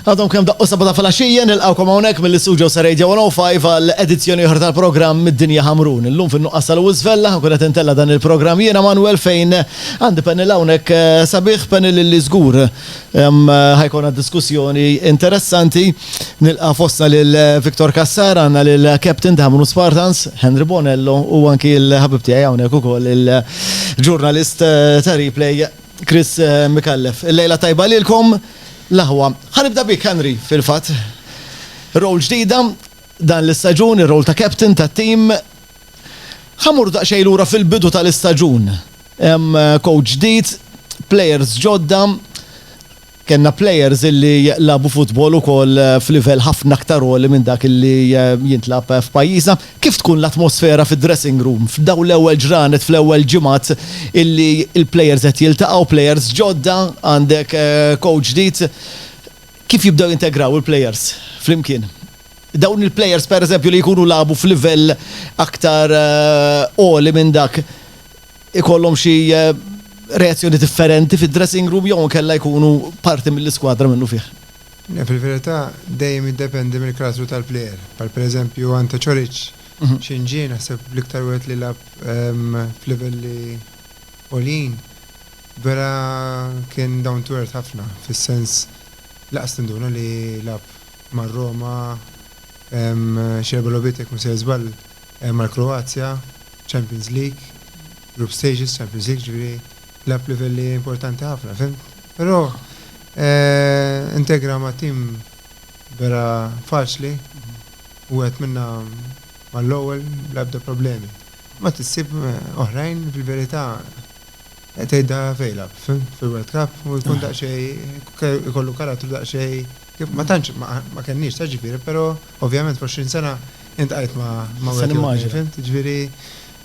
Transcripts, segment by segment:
Għadhom kemm daqqu s-Sabata filgħaxija, nilqgħukom hawnhekk mill-istudios ta' Radio 105 għal edizzjoni oħra tal-programm Mid-Dinja Ħamrun. Illum fin-nuqqas ta' Louis Vella, nkun qed intella' dan il-programm jiena Manwel fejn għandi panel hawnhekk sabiħ, panel li żgur ħa jkollna diskussjoni interessanti. Nilqa' fostna lil Victor Cassar, għandna lill-Captain ta' Ħamrun Spartans, Henry Bonello u anki l-ħabib tiegħi hawnhekk ukoll il-ġurnalist ta' Replay, Chris Micallef. Il-lejla tajba lilkom l-aħwa. Ħa nibda bik Henry fil-fatt. Role ġdida dan l-istaġun, ir-role ta' captain tat-tim. Ħa mmorru daqsxejn lura fil-bidu tal-istaġun. Coach ġdid, players ġodda. Kellna players illi lagħbu futbol ukoll f'livell ħafna aktar għoli minn dak illi jintlagħab f'pajjiżna. Kif tkun l-atmosfera fid-dressing room f'dawn l-ewwel ġranet, fl-ewwel ġimgħat illi l-players qed jiltaqgħu, players ġodda, għandek coach ġdid. Kif jibdew jintegraw il-players flimkien? Dawn il-players pereżempju li jkunu lagħbu f'livell aktar għoli minn dak ikollhom xi reazzjoni differenti fid-dressing room jew kella jkunu parti mill-iskwadra minnu fih. Fil-verità dejjem jiddependi mill-karattru tal-plejer. Bħal pereżempju Ante Coric, x'inhu ġie naħseb l-iktar wieħed li lagħab f'livelli għoljin, vera kien down to earth ħafna, fis-sens lanqas tinduna li lagħab mar-Roma xi erba' logħbiet jekk mhu sejr żball. mal-Kroazja, Champions League, Group Stages, Champions League, ġifieri lagħab livelli importanti ħafna, fhimt? Però integra ma' tim vera faċli, wieħed minnha mal-ewwel bla ebda problemi. Mbagħad issib oħrajn fil-verità tgħidha fejlab, fil-World Cup u jkun daqsxejn ikollu karattru daqsxejn. Kif ma tantx ma kenniex ta' ġifieri, però ovvjament fl-20 sena int qajt ma' wieħed immaġina. Fimt? Ġifieri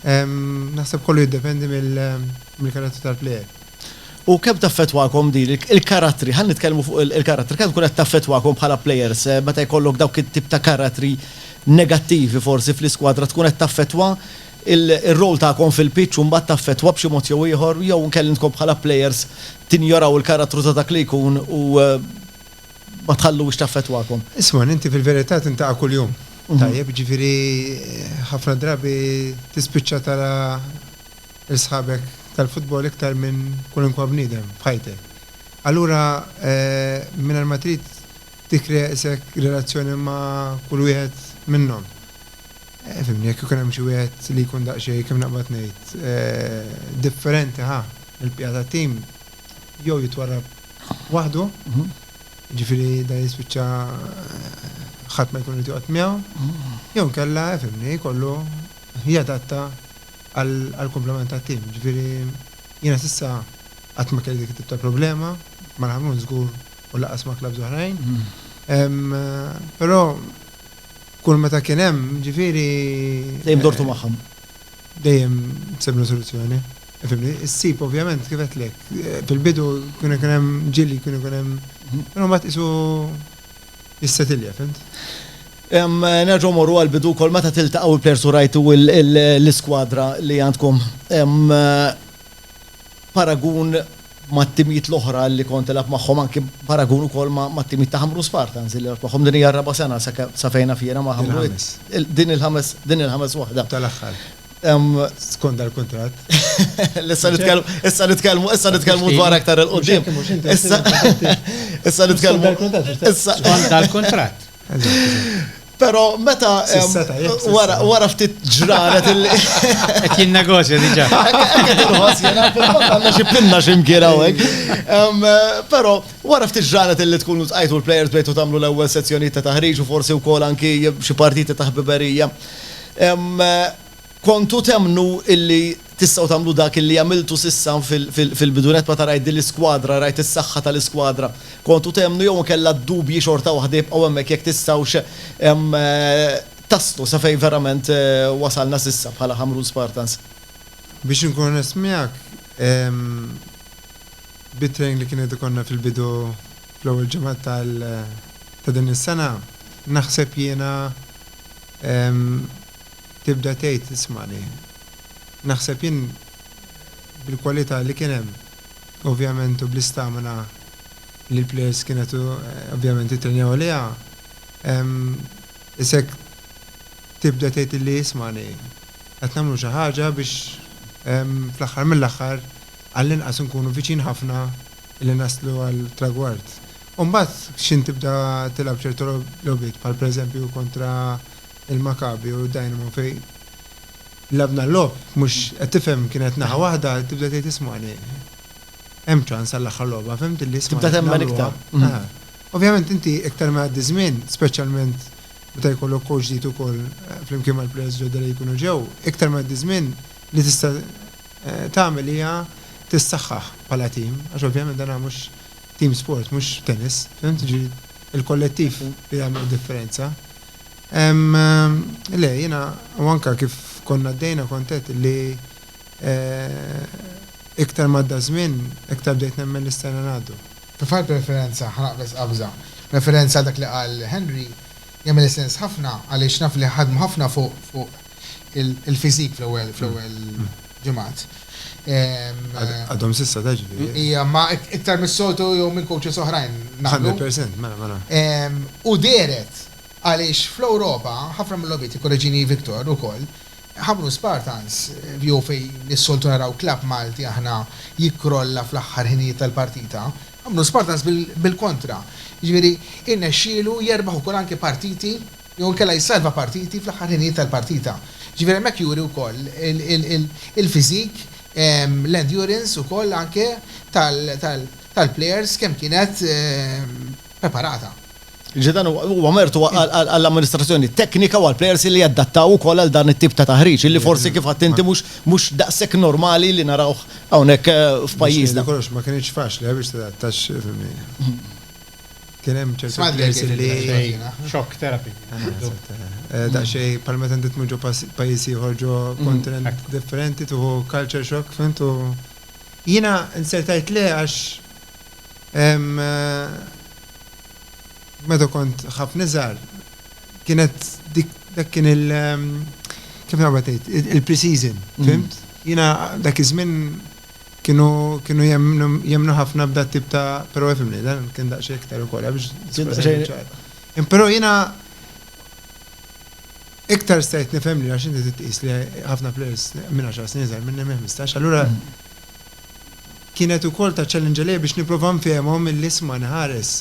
naħseb kollu jiddependi mill-karattru tal-plejer. U kemm taffettwakom din il-karattri, ħa nitkellmu fuq il-karattri, kemm tkun qed taffettwakom bħala plejers meta jkollok dawk it-tip ta' karattri negattivi forsi fl-iskwadra tkun qed taffettwa Ir-role tagħkom fil-pitch u mbagħad taffettwa b'xi mod jew ieħor jew inkella intkom bħala plejers tinjoraw il-karattru ta' dak li jkun u ma tħalluhiex taffettwakom? Isma', inti fil-verità tintaqa' kuljum, tajjeb, jiġifieri ħafna drabi tispiċċa tara l-sħabek tal-futbol iktar minn kwalunkwa bniedem f'ħajtek. Allura mingħajr ma trid tikkrea qisek relazzjoni ma' kull wieħed minnhom. Fimni, jekk ikun hemm xi wieħed li jkun daqsxejn, kif naqbad ngħid, differenti ħa mill-bqija tat-tim, jew jitwarrab waħdu, jiġifieri dan jispiċċa ħadd ma jkun irid joqgħod miegħu, jew inkella, fimni, jkollu jadatta għall-kumplament tat-tim. Jiġifieri jiena s'issa qatt ma kelli dik it-tip ta' problema, mal-Ħamrun żgur u lanqas ma' klabbs oħrajn. Però Kull meta kien hemm, ġifieri. Dejjem dortu magħhom. Dejjem sibna soluzzjoni. Fimni? Issib ovvjament kif għedtlek. Fil-bidu kien ikun hemm ġieli, kien ikun hemm. Però mbagħad qisu jissetilja, fhimt? Nerġgħu mmorru għall-bidu wkoll meta tiltaqgħu il-plejers u rajtu l-iskwadra li għandkom. Paragun mat-timijiet l-oħra li kont tilgħab magħhom anki b'paragun ukoll mat-timijiet ta' Ħamrun Spartans li lgħabt magħhom. Din hija r-raba' sena sa fejn naf jiena ma' Ħamrun. Il-ħames. Din il-ħames, din il-ħames waħda. Tal-aħħar. Emm. Skont dal-kuntratt. Issa nitkellmu, issa nitkellmu, issa nitkellmu dwar aktar 'il quddiem. Issa nitkellmu. Skont dal-kuntratt. Skont dal-kuntratt. Pero meta wara ftit ġranet il- Qed jien negozja diġà. Għandna xi pinna xi mkien hawnhekk. Però wara ftit ġranet illi tkunu tqajtu l-plejers bejtu tagħmlu l-ewwel sezzjonijiet ta' taħriġ u forsi wkoll anki xi partiti ta' ħbiberija. Kontu temmnu illi tistgħu tagħmlu dak illi għamiltu s'issa fil-bidunett meta rajt din l-iskwadra, rajt is-saħħa tal-iskwadra? Kontu temmnu jew inkella d-dubji xorta waħda jibqgħu hemmhekk jekk tistgħux taslu sa fejn verament wasalna s'issa bħala Ħamrun Spartans? Biex inkun onest miegħek, bit-training li kien qed ikollna fil-bidu fl-ewwel ġimgħat ta' din is-sena, naħseb jiena, Tibda tgħid, Ismagħni, naħseb jien bil-kwalità li kien hemm ovvjament u bl-istamina li l-plejers kienet ovvjament ittrenjaw għaliha, issa jekk tibda tgħid lili, Ismagħni, qed nagħmlu xi ħaġa biex fl-aħħar mill-aħħar għall-inqas inkunu viċin ħafna li naslu għall-tragward. U mbagħad x'ħin tibda tilgħab ċertu logħbiet bħal pereżempju kontra il-Maccabi u d-Dynamo fejn labna l-logħob mhux qed tifhem kien qed naħa waħda tibda tgħid ismagħni hemm ċans għall-aħħar logħba fehmtilli ismagħni. Tibda temmen iktar. Aha. Ovvjament inti iktar ma jgħaddi ż-żmien, speċjalment meta jkollok coach ġdid ukoll flimkien mal-players ġodda li jkunu ġew, iktar ma jgħaddi ż-żmien li tista' tagħmel hija tissaħħaħ bħala tim għax ovvjament dan huwa mhux team sport mhux tennis, fhimt? Jiġifieri l-kollettiv li jagħmel id-differenza. Ehm, le, jiena, u anke kif konna għaddejna kont għedt li eh, iktar ma għadda żmien, iktar bdejt nemmen li stajna ngħaddu. Tfal preferenza, ħa naqbeż qabża. Referenza għal dak li qal Henry jagħmilli sens ħafna għaliex naf li ħadmu ħafna fuq, fuq, il-fiżik fl-ewwel fl-ewwel ġimgħat. Għadhom s'issa ta' ġifieri. Hija ma iktar mis-soltu jew minn coaches oħrajn nagħmlu. 100% mela mela. U dehret għaliex fl-Ewropa ħafna mill-logħbiet, ikkoreġini Victor ukoll, ħamru Spartans jew fejn is-soltu naraw klabb Malti aħna jikkrolla fl-aħħar ħinijiet tal-partita, ħamru Spartans bil-kontra. Jiġifieri irnexxielu jerbaħ ukoll anke partiti jew inkella jissalva partiti fl-aħħar ħinijiet tal-partita. Ġifieri hemmhekk juri wkoll il-physique, l-endurance ukoll anke tal-plejers kemm kienet preparata. Ġifieri dan huwa mertu għall-amministrazzjoni teknika u għall-plejers illi jadattaw ukoll għal dan it-tip ta' taħriġ illi forsi kif għidt inti mhux daqshekk normali li narawh hawnhekk f'pajjiżna. Biex ngħidlek kollox ma kinitx faċli biex tadatta għax fimni. Kien hemm ċertu players li. Shock therapy. Daqsxejn bħal meta inti tmur ġo pajjiż ieħor ġo kontinent differenti tieħu culture shock fhimt u jiena inser tgħid le għax meta kont ħafna iżgħar kienet dik dak kien il kif nagħmel tgħid il-pre-season fhimt? Jiena dak iż-żmien kienu kienu jemmnu jemmnu ħafna b'da t-tip ta' però ifhimni dan kien daqsxejn iktar ukoll għax Kien daqsxejn ċar. Imma però jiena iktar stajt nifhem li għax inti trid tqis li ħafna players minn għaxar snin iżgħar minni minn ħmistax allura kienet ukoll ta' challenge għalija biex nipprova nfehimhom illi isma' nħares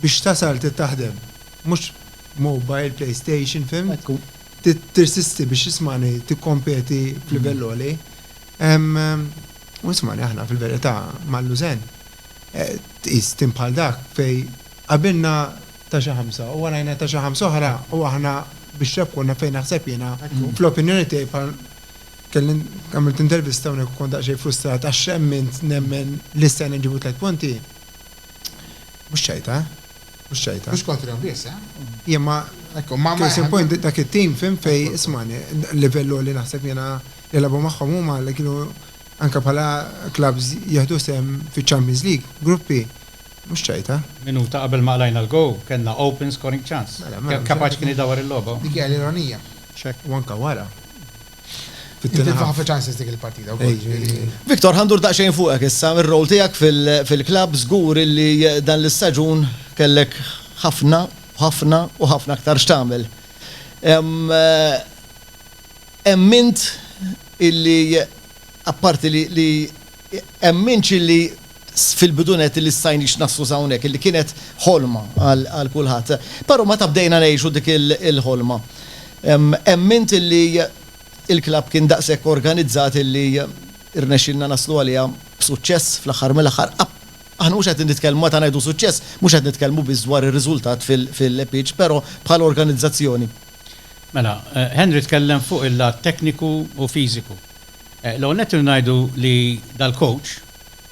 biex tasal trid taħdem mhux mobile, playstation fhimt? tirsisti biex ismagħni tikkompeti f'livell għoli. U ismagħni aħna fil-verità mal-lużen. Eh, tqis tim bħal dak fej qabilna ta' xi ħamsa u warajna ta' xi ħamsa oħra u aħna biex rebħuna fejn naħseb jiena fl-opinjoni tiegħi bħal kelli għamilt intervista hawnhekk kont daqsxejn frustrat għax xemmint nemmen li s-sena nġibu tliet punti. Mhux ċajta, Mhux ċajta. Mhux kontrihom biss, eh? Jien ma. Hekk hu, ma ma. Case in point, dak it-tim, fim, fejn, ismagħni, livell għoli naħseb jiena li lagħbu magħhom huma li kienu anke bħala clubs jieħdu sehem fiċ-Champions League, gruppi, mhux ċajta. Minuta qabel ma qlajna l-goal, kellna open scoring chance. Mela, mela. Kemm kapaċi kien idawwar il-logħba. Dik hija l-ironija. X'hekk? U anke wara. Victor, ħandur daqsxejn fuqek issa, ir-rol tiegħek fil-klabb żgur illi dan l-istaġun kellek ħafna, ħafna u ħafna aktar x'tagħmel. Emmint illi apparti li emminx illi fil-bidu nett illi stajniex naslu sa hawnhekk, illi kienet ħolma għal kulħadd. Però meta bdejna ngħixu dik il-ħolma, emmint illi l-klabb kien daqshekk organizzat illi rnexxielna naslu għaliha b'suċċess fl-aħħar mill-aħħar. Aħna mhux qed nitkellmu, meta ngħidu suċċess, mhux qed nitkellmu biss dwar ir-riżultat fil-pitch, però bħala organizzazzjoni. Mela, Henry tkellem fuq il-lat tekniku u fiżiku. L-ewwel nett irridu ngħidu li dal-kowċ,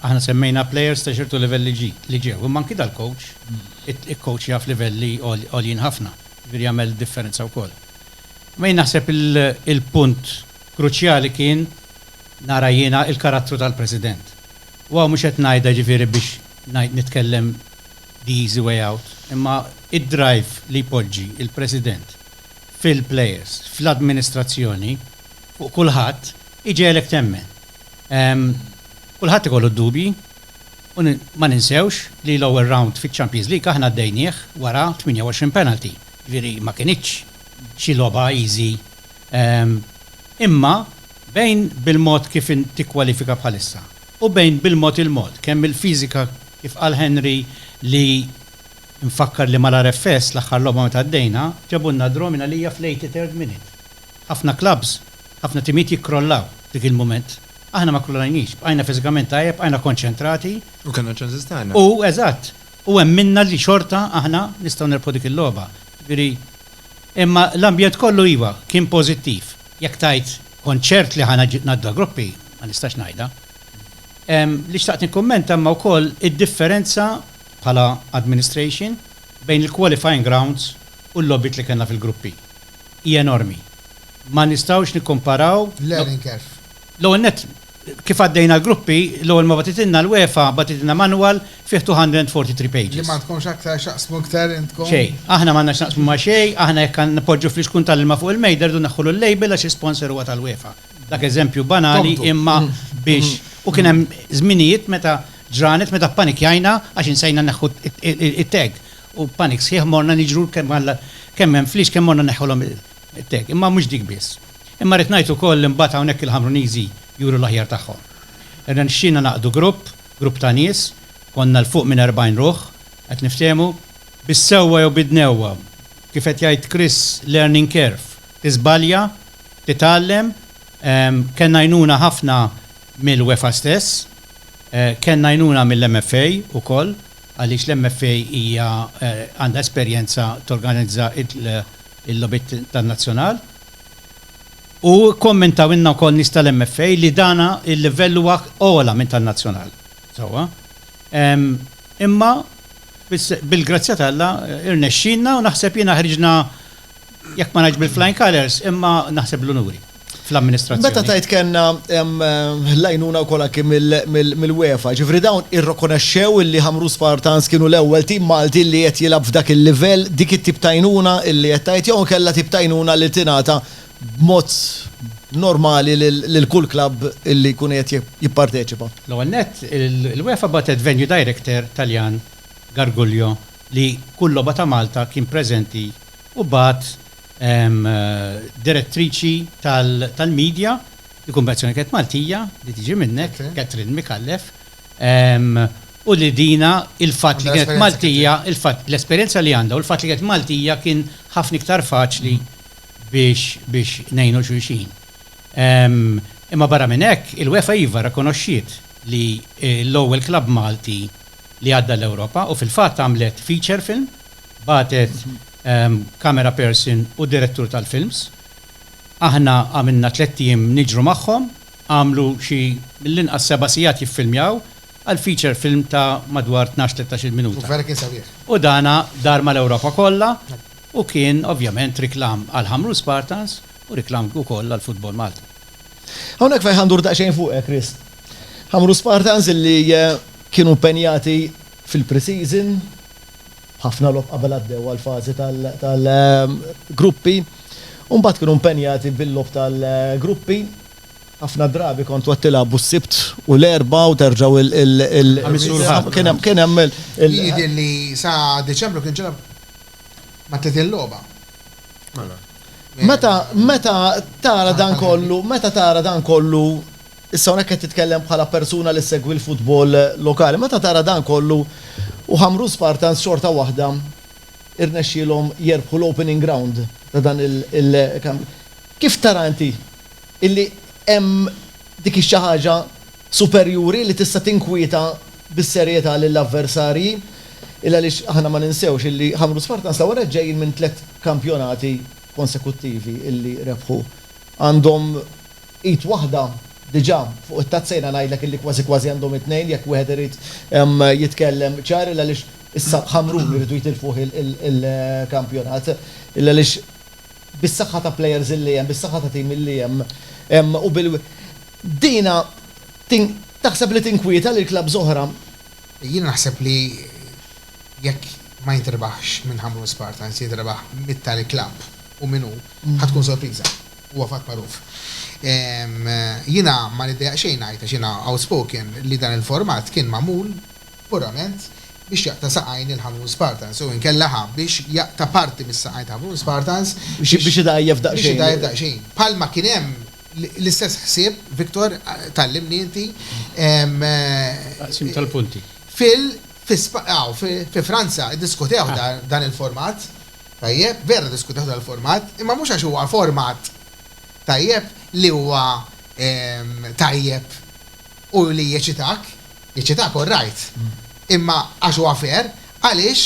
aħna semmejna plejers ta' ċertu livell li ġi, li ġew, imma anki dal-kowċ ikkowċja f'livelli għoljin ħafna, jiġifieri jagħmel differenza wkoll. Imma jien naħseb il-punt kruċjali kien, nara jiena, il-karattru tal-President. U hawn mhux qed ngħidha jiġifieri biex ngħid, nitkellem the easy way out, imma d-drive li jpoġġi l-President fil-plejers, fl-administrazzjoni, fuq kulħadd, iġegħlek temmen. Kulħadd ikollu d-dubji u ma ninsewx li l-ewwel rawnd fiċ-Champions League aħna għaddejnieh wara 28 penalty, jiġifieri ma kinitx xi logħba easy. Imma bejn bil-mod kif tikkwalifika bħalissa u bejn bil-mod il-mod, kemm il-fiżika kif qal Henry li Infakkar li mal-RFS l-aħħar logħba meta għaddejna, ġabulna draw minn għalija fl-eighty third minute. Ħafna klabbs, ħafna timijiet jikkrollaw dik il-mument. Aħna ma kkrolajniex, bqajna fiżikament tajjeb, bqajna konċentrati. U kellna ċ-ċansis tagħna. U, eżatt, u emminna li xorta aħna nistgħu nirbħu dik il-logħba. Jiġifieri, imma l-ambjent kollu iva, kien pożittiv. Jekk tgħid kont ċert li ħa ngħaddu għall-gruppi, ma nistax ngħidha. Li xtaqt nikkummenta imma wkoll id-differenza bħala administration bejn il-qualifying rounds u l-logħbiet li kellna fil-gruppi hi enormi. Ma nistgħux nikkumparaw. Learning curve. L-ewwel nett, kif għaddejna l-gruppi, l-ewwel ma bagħtitilna l-UEFA bagħtitilna manual fih 243 pages. Li m'għandkomx aktar x'taqsmu iktar intkom. Xejn. Aħna m'għandna x'naqsmu ma' xejn, aħna jekk għandna npoġġu fl-ixkun tal-ilma fuq il-mejda rridu neħħulu l-label għax l-isponsor huwa tal-UEFA. Dak eżempju banali imma biex u kien hemm żminijiet meta ġranet meta ppanikjajna għax insejna neħħu t-tag u b'panik sħiħ morna niġru kemm hemm flix kemm morna neħħulhom it-tag. Imma mhux dik biss. Imma rrid ngħid ukoll li mbagħad hawnhekk il-Ħamruniżi juru l-aħjar tagħhom. Irnexxielna nagħqdu grupp, grupp ta' nies, konna 'l fuq minn 40 ruħ, qed niftehmu, bis-sewwa jew bid-dnewwa, kif qed jgħid Chris, learning curve, tiżbalja, titgħallem. Kellna għajnuna ħafna mill-UEFA stess. Kellna għajnuna mill-MFA wkoll għaliex l-MFA hija għandha esperjenza torganizza l-logħbiet tan-nazzjonal. U kkommentawilna wkoll nies tal-MFA li dan il-livell huwa ogħla minn tan-nazzjonal. Sewwa. Imma bil-grazzja t'Alla rnexxielna u naħseb jiena ħriġna Jekk ma ngħidx bil-flying colours, imma naħseb l-unuri fl-amministrazzjoni. Meta tgħid kellna l-għajnuna wkoll anke mill-UEFA, ġifieri dawn irrokonaxxew illi Ħamrun Spartans kienu l-ewwel tim Malti li qed jilgħab f'dak il-livell, dik it-tip ta' għajnuna illi qed tgħid jew inkella tip ta' għajnuna li tingħata b'mod normali lil kull klabb illi jkun qiegħed jipparteċipa? L-ewwel nett, l-UEFA bagħtet venue director Taljan, Gargullo, li kull logħba ta' Malta kien preżenti. u bagħat direttriċi tal-media, ikun peress li kienet Maltija, li tiġi minnek, Catherine Micallef, u li dina il-fatt li kienet Maltija, l-esperjenza li għandha u l-fatt li kienet Maltija kien ħafna iktar faċli biex ngħinu xulxin. Imma barra minn hekk, il-UEFA iva rrikonoxxiet li l-ewwel klabb Malti li għadda l-Ewropa u fil-fatt għamlet feature film bagħtet camera person u direttur tal-films. Aħna għamilna tlett ijiem niġru magħhom, għamlu xi mill-inqas seba' sigħat jiffilmjaw għal feature film ta' madwar tnax, tlettax-il minuta. U dan dar mal-Ewropa kollha u kien ovvjament riklam għal Ħamrun Spartans u riklam ukoll għal Football Malta. Hawnhekk fejn ħandur daqsxejn fuqek, Chris. Ħamrun Spartans illi kienu mpenjati fil-pre-season, Ħafna logħob qabel għaddew għall-fażi tal-gruppi u mbagħad kienu impenjati bil-logħob tal-gruppi. Ħafna drabi kontu qed tilagħbu s-Sibt u l-Erbgħa u terġgħu il-Ħamis u l-Ħadd. Kien hemm kien hemm il. Jidher li sa Diċembru kien ġara ma tliet il-logħba. Mela. Meta meta tara dan kollu meta tara dan kollu Issa hawnhekk qed titkellem bħala persuna li ssegwi l-futbol lokali. Meta tara dan kollu, u Ħamrun Spartans xorta waħda rnexxielhom jerbħu l-opening ground ta' dan il-kampjonat, kif tara inti illi hemm dik ix-xi ħaġa superjuri li tista' tinkwieta bis-serjetà lill-avversarji? Illa għaliex aħna ma ninsewx illi Ħamrun Spartans ta' wara ġejjin minn tliet kampjonati konsekuttivi illi rebħu. Għandhom Id waħda diġà fuq it-tazza jiena ngħidlek illi kważi kważi għandhom it-tnejn jekk wieħed irid jitkellem ċar illa għaliex issa Ħamrun iridu jitilfuh il-kampjonat illa għaliex bis-saħħa ta' plejers illi hemm, bis-saħħa ta' tim illi hemm u bil dina taħseb li tinkwieta lil klabbs oħra? Jiena naħseb li jekk ma jintrebaħx minn Ħamrun Spartans jintrebaħ mit-tali klabb u min hu, ħa tkun sorpriża. Huwa fatt magħruf. Jiena ma niddejjaq xejn ngħid, għax jiena outspoken, li dan il-format kien magħmul purament biex jaqta' saqajn il-Ħamrun Spartans jew inkella ħa biex jaqta' parti mis-saqajn ta' Ħamrun Spartans biex Biex idgħajjef daqsxejn. biex idgħajjef daqsxejn. Bħalma kien hemm l-istess ħsieb, Victor, tgħallimni inti, Taqsim tal-punti. fil, fi Spa, aw, fi Franza ddiskutew dan il-format. Tajjeb, vera diskutew dal-format, imma mhux għax huwa format tajjeb li huwa tajjeb u li jeċitak, jeċitak all right, imma għax huwa fair, għaliex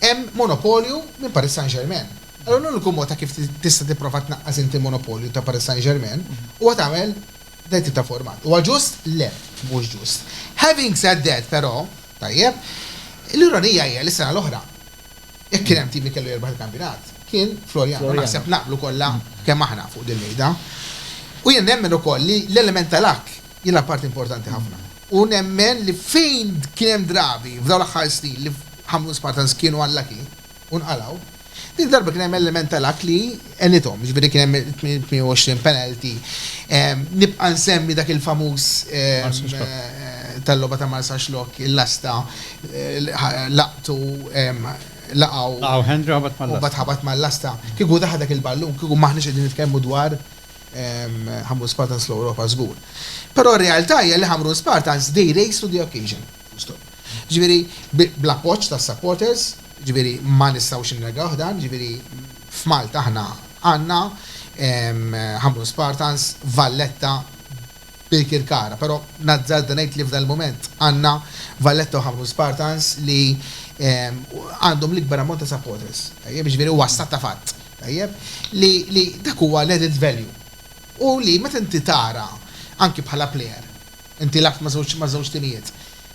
hemm monopolju minn Paris Saint-Germain. Allura l-uniku mod ta' kif tista' tipprova tnaqqas inti l-monopolju ta' Paris Saint-Germain huwa tagħmel dan it-tip ta' format. Huwa ġust? Le, mhux ġust. Having said that, però, tajjeb, l-ironija hija li s-sena l-oħra, Jekk kien hemm tim li kellu jirbaħ il-kampjonat, kien Floriana. Naħseb naqblu kollha kemm aħna fuq dil-mejda. U jien nemmen ukoll li l-element tal-Akk jilgħab parti importanti ħafna. U nemmen li fejn kien hemm drabi f'dawn l-aħħar snin li Ħamrun Spartans kienu unlucky u nqalgħu, din id-darba kien hemm element tal-Akk li, Qellithom, jiġifieri kien hemm 28 penalty. Nibqa' nsemmi dak il-famuż tal-logħba ta' Marsaxx Locke, il-lasta, laqtu, laqgħu. Laqgħu Hendry u ħabat mal-lasta. U mbagħad ħabat mal-lasta. Kieku daħal dak il-ballun, kieku m'aħniex qegħdin nitkellmu dwar Ħamrun Spartans fl-Ewropa żgur. Però r-realtà hija li Ħamrun Spartans they raised to the occasion. Full stop. Jiġifieri bl-appoġġ tas-supporters, jiġifieri ma nistgħux innegawh dan, jiġifieri F'Malta aħna għandna Ħamrun Spartans, Valletta, Birkirkara, però nazzarda ngħid li f'dan il-mument għandna Valletta u Ħamrun Spartans li għandhom l-ikbar ammont ta' supporters, tajjeb, jiġifieri huwa stat ta' fatt, tajjeb, li dak huwa l-added value u li meta inti tara anki bħala plejer Inti lgħabt ma' żewġ ma' żewġ timijiet.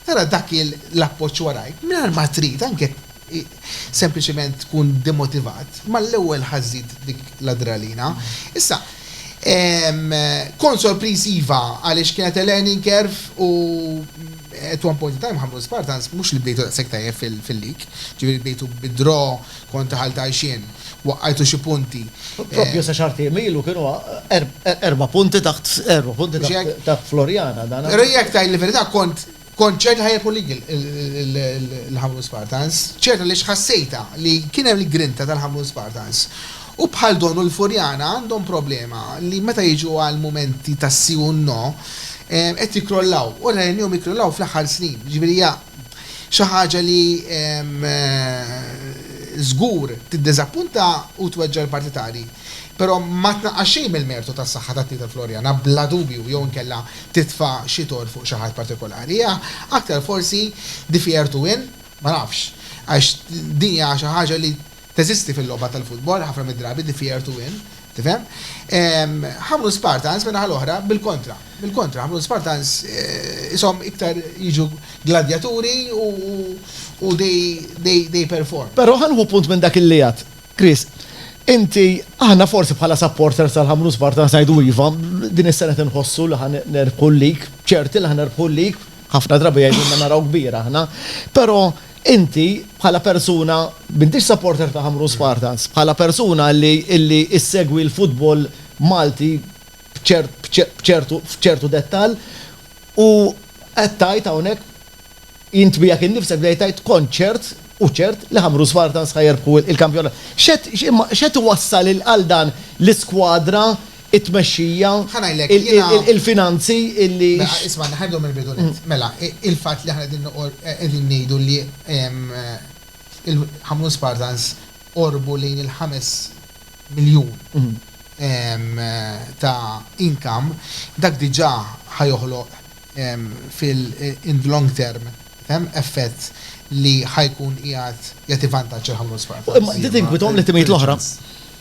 Tara dak il l-appoġġ warajk mingħajr ma trid anke jekk sempliċement tkun demotivat, mal-ewwel ħażżid dik l-adrenalina. Issa, kont sorpriż iva għaliex kienet a learning curve u at one point in time Ħamrun Spartans mhux li bdejtu daqshekk tajjeb fil-league, ġifieri bdejtu bi draw Kont daħalt għajxien. Waqqajtu xi punti. Proprju sa xahar tiem ilu kienu erba' punti taħt erba' punti taħt Floriana dan. Però jekk tgħid l-verità kont kont ċert li ħajjirpu lig il-Ħamrun Spartans. Ċert għaliex ħassejtha li kien hemm il-grinta tal-Ħamrun Spartans. U bħal Don u l-Furjana għandhom problema li meta jiġu għal mumenti ta' si u no qed jikkrollaw. U rajnihom jikkrollaw fl-aħħar snin. Jiġifieri hija Xi ħaġa li żgur tiddiżappunta u tweġġa' l-partitarji, però ma tnaqqas xejn mill-mertu tas-saħħa tat-tim tal-Floriana bla dubju jew inkella titfa' xi torr fuq xi ħadd partikolari. Aktar forsi di fiertu in, ma nafx, għax din hija xi ħaġa li Teżisti fil-logħba tal-futbol ħafna mid-drabi d-dfier to win, tifhem. Ħamrun Spartans min-naħa l-oħra bil-kontra, bil-kontra Ħamrun Spartans qishom iktar jiġu gladjaturi u they perform. Però ħa nieħu punt minn dak illi għad Chris. Inti, aħna forsi bħala supporters tal-Ħamrun Spartans ngħidu iva, din is-sena qed inħossu li ħa nerbħu l-league, ċerti li ħa nerbħu l-league, ħafna drabi jgħidulna naraw kbir aħna, però Inti, bħala persuna, m'intix supporter ta' Ħamrun Spartans, bħala persuna li li issegwi l-futbol Malti b'ċert b'ċertu f'ċertu dettall u qed tgħid hawnhekk int miegħek innifsek bdejt tgħid kont ċert u ċert li Ħamrun Spartans ħa jerbħu il-kampjonat. X'qed imma x'qed iwassal għal dan l-iskwadra it-tmexxija, il-finanzi, illi. Mela, ismagħni, ħa nibdew mill-bidu nett. Mela, il-fatt li aħna qegħdin qegħdin ngħidu li il-Ħamrun Spartans qorbu lejn il-ħames miljun ta' income, dak diġà ħa joħloq fil-in the long term, tifhem, effett li ħa jkun qiegħed jagħti vantaġġ lill-Ħamrun Spartans. Imma din tinkwitahom l-timijiet l-oħra?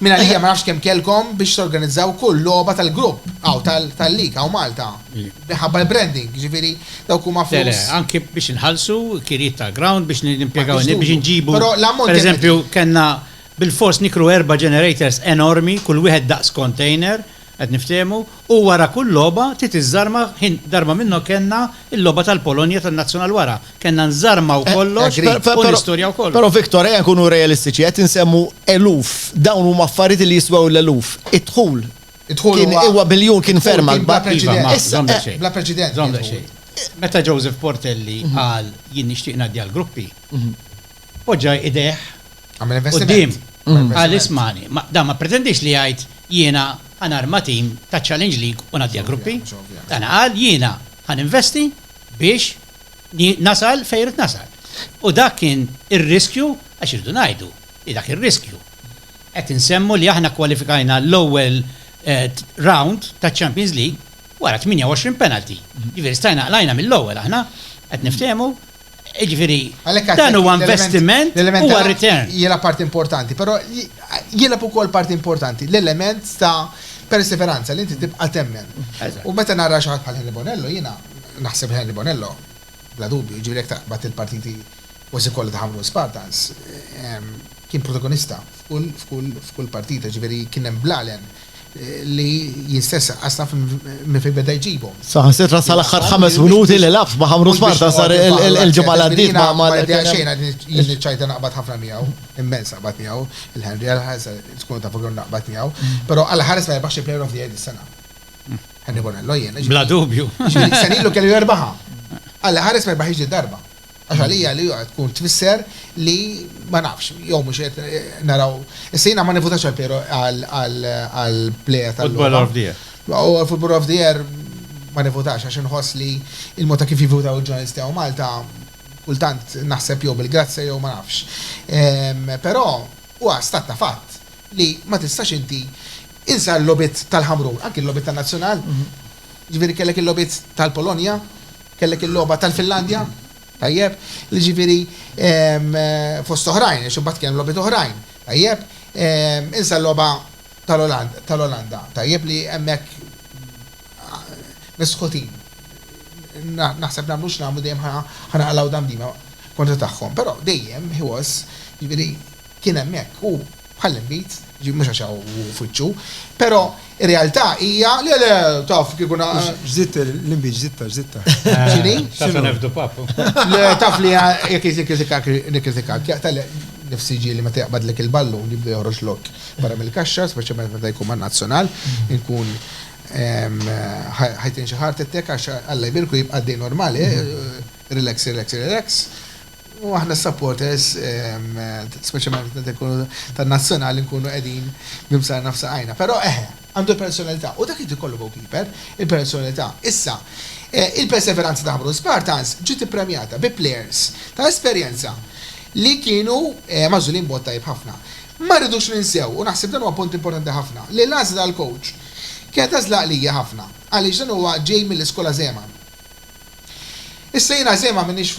Mingħalija ma nafx kemm kellkom biex torganizzaw kull logħba tal-grupp, aw tal-lig, aw Malta. Minħabba l-branding, jiġifieri dawk huma flus. Le, le, anki biex inħallsu kirjiet tal-ground biex nimpjegaw in-nies biex inġibu. Però l-ammont. Per eżempju, kellna bilfors nikru erba' generators enormi, kull wieħed daqs container, Qed niftehmu u wara kull logħba trid iżżarma ħin darba minnhom kellna l-logħba tal-Polonja tan-Nazzjonal wara. Kellna nżarmaw kollox u nistorjaw kollox. Però Victor ejja nkunu realistiċi qed insemmu eluf. Dawn huma affarijiet li jiswew l-eluf. Id-dħul kien huwa biljun kien ferm akbar. Bla preċedent. Meta Joseph Portelli qal jien nixtieq ngħaddi għall-gruppi, Poġġa idejh quddiem u qal ismagħni, dan ma ppretendix li jgħid jiena ħa narma tim taċ-Challenge League u ngħaddiha gruppi. Dan qal jiena ħa ninvesti biex nasal fejn rrid nasal. U dak kien ir-riskju għax irridu ngħidu li dak ir-riskju. Qed insemmu li aħna kkwalifikajna l-ewwel round taċ-Champions League wara 28 penalty. Jiġifieri stajna qlajna mill-ewwel aħna, qed niftehmu? Ġifieri, dan huwa investiment u return. Jilgħab parti importanti, però jilgħab ukoll parti importanti l-element ta' perseveranza li inti tibqa' temmen. U meta nara xi ħadd bħal Henry Bonello jiena naħseb Henry Bonello bla dubju, jiġifieri jekk taqbad il-partiti kważi kollha ta' Ħamrun Spartans, kien protagonista f'kull partita, jiġifieri kien hemm bl-għalem li jistess qasna minn fejn beda jġibhom. Saħansitra sal-aħħar ħames minuti li labt ma' Ħamrun Sparta sar il-ġimgħa li għaddiet ma' ma' xejn jien iċ-ċajta naqbad ħafna miegħu, immens naqbad miegħu, il-Henry għall-ħarsa tkunu tafu kemm naqbad miegħu, però għall-ħares ma rebaħx il-Player of the Year dis-sena. Henry Bonello jiena. Bla dubju. Sena ilu kellu jerbaħha. Għall-ħares ma rebaħhiex did-darba. Għax għalija li joqgħod tkun tfisser li ma nafx, jew mhux qed naraw. Issa jiena ma nivvutax għal Piero għal pleja tal Football of the Year. U għal Football of the Year ma nivvutax għax inħoss li il-mod ta' kif jivvutaw il-ġurnalisti hawn Malta kultant naħseb jew bil-grazzja jew ma nafx. Però huwa stat ta' fatt li ma tistax inti insa l-logħbiet tal-Ħamrun, anki l-logħbiet tan-Nazzjonal, jiġifieri kellek il-logħbiet tal-Polonja, Kellek il-logħba tal-Finlandja, tajjeb, li ġifieri fost oħrajn, għax imbagħad kien logħbiet oħrajn, tajjeb, insa l-logħba tal-Olanda, tajjeb li hemmhekk misħutin. Naħseb nagħmlu x'nagħmlu dejjem ħanaqalgħu dam dima kontra tagħhom, però dejjem he was, jiġifieri Kien hemmhekk hu bħall-inbid, jiġifieri mhux għax hawn hu f'wiċċu, però r-realtà hija li le, taf kieku na. Żidt l-inbid, żidtha, żidtha. X'inhi? Taf li nefdu papu. Le, taf li jekk jikkritikak, nikkritikak. Jaqta' nifsi ġieli meta jaqbadlek il-ballun jibda joħroġ lok barra mill-kaxxa, speċjalment meta jkun man-Nazzjonal, inkun ħajtin xi heart attack għax Alla jbierku jibqa' għaddej normali, relax, relax, relax. U aħna s-supporters, speċjalment meta jkunu tan-Nazzjonali nkunu qegħdin b'imsarna f'saqajna. Però eħe, għandu l-personalità u dak irid ikollu goalkeeper, il-personalità. Issa, il-perseveranza ta' Ħamrun Spartans ġiet ippremjata bi plejers ta' esperjenza li kienu magħżulin b'mod tajjeb ħafna. Ma rridux ninsew, u naħseb dan huwa punt importanti ħafna, li l-għażla tal-kowċ kienet għażla għaqlija ħafna għaliex dan huwa ġej mill-iskola Zeman. Issa jiena Zeman m'iniex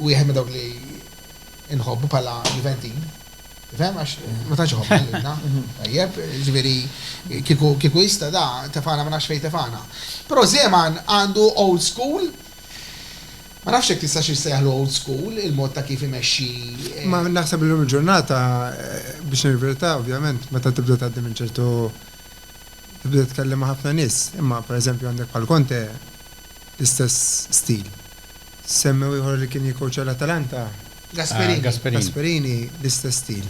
wieħed minn dawk li nħobbu bħala Juventin. Fem, għax ma tax ħobbu l-inna. Tajjeb, ġviri, kiku jista da, tefana ma nafx fej tefana. Pero Zeman għandu old school, ma nafx jek tista xiex sejħlu old school, il-mod ta' kif imexxi. Eh, ma naħseb l-lum ġurnata eh, biex nirverta, ovvjament, meta tibda tgħaddi minn ċertu tibda tkellem ħafna nis, imma per eżempju għandek bħal konte l-istess stil. Semmew ieħor li kien jikkowċja l-Atalanta, Gasperini, l-istess stil.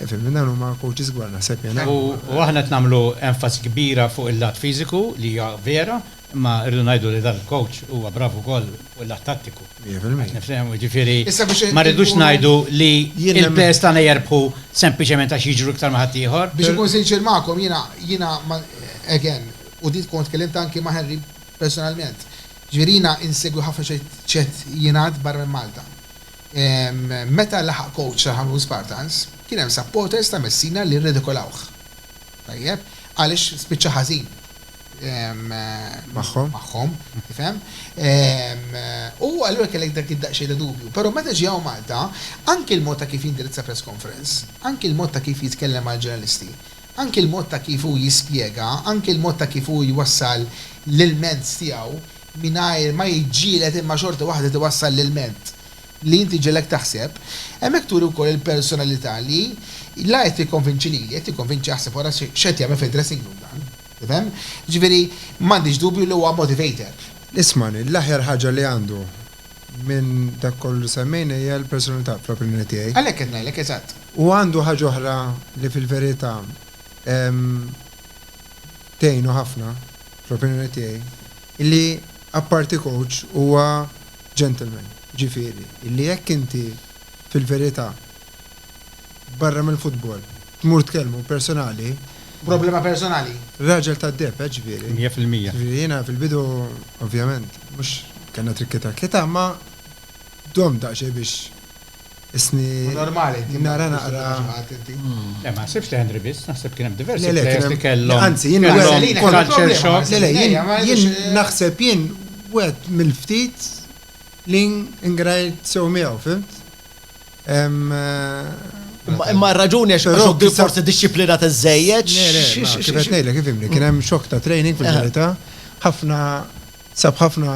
Fimni, dawn huma kowċis kbar naħseb jien, ha? U aħna qed nagħmlu enfasi kbira fuq il-lat fiżiku li hija vera, imma rridu ngħidu li dan il-kowċ huwa brav ukoll fuq il-lat tattiku. Mija fil-mija. Qed nifhem, jiġifieri ma rridux ngħidu li l-players tagħna jirbħu sempliċement għax jiġru iktar minn ħaddieħor. Biex inkun sinċier magħkom, jiena, jiena, again, u din tkun tkellimt anki ma' Henry personalment. Ġifieri jiena insegwi ħafna x'qed jingħad barra minn Malta. Meta laħaq coach ta' Ħamrun Spartans, kien hemm supporters ta' Messina li rridikolawh. Tajjeb? Għaliex spiċċa ħażin magħhom, tifhem? U allura kellek dak id-daqsxejn ta' dubju. Però meta ġie hawn Malta, anki l-mod ta' kif jindirizza press conference, anki l-mod ta' kif jitkellem mal-ġurnalisti, Anki l-mod ta' kif hu jispjega, anki l-mod ta' kif hu jwassal l-ilment tiegħu mingħajr ma jiġġieled imma xorta waħda tiwassal l-ilment li inti jġegħlek taħseb, hemmhekk turi wkoll il-personalità li la qed jikkonvinċi lili, qed jikkonvinċi aħseb ara x'qed jagħmel fid-dressing room dan. Tifhem? Jiġifieri m'għandix dubju li huwa motivator. Isma' li l-aħjar ħaġa li għandu minn dak kollu li semmejna hija l-personalità, fl-opinjoni tiegħi. Għalhekk qed ngħidlek, eżatt. U għandu ħaġa oħra li fil-verità tgħinu ħafna, fl-opinjoni tiegħi, illi apparti coach huwa gentleman, jiġifieri illi jekk inti fil-verità Barra mill-futbol. Tmur tkellmu personali. Problema personali? Raġel tad-deheb, eh, ġifieri. Mija fil-mija. Jiena fil-bidu, ovvjament, mhux kellna trikki-trakkita, imma domt daqsxejn biex isni. Hu normali inti ma tkunx taf ta' xi ħadd inti. Le, ma naħsibx li Henry biss, naħseb kien hemm diversi players li kellhom. Anzi, jien culture shock. Le, le, jien naħseb jien wieħed mill-ftit li ngrajt sew miegħu, fhimt? Imma r-raġuni għax Rocky forsi dixxiplinat iżżejjed. Kif qed ngħidlek kif imni, kien hemm xokk ta' training fil-verità, ħafna sab ħafna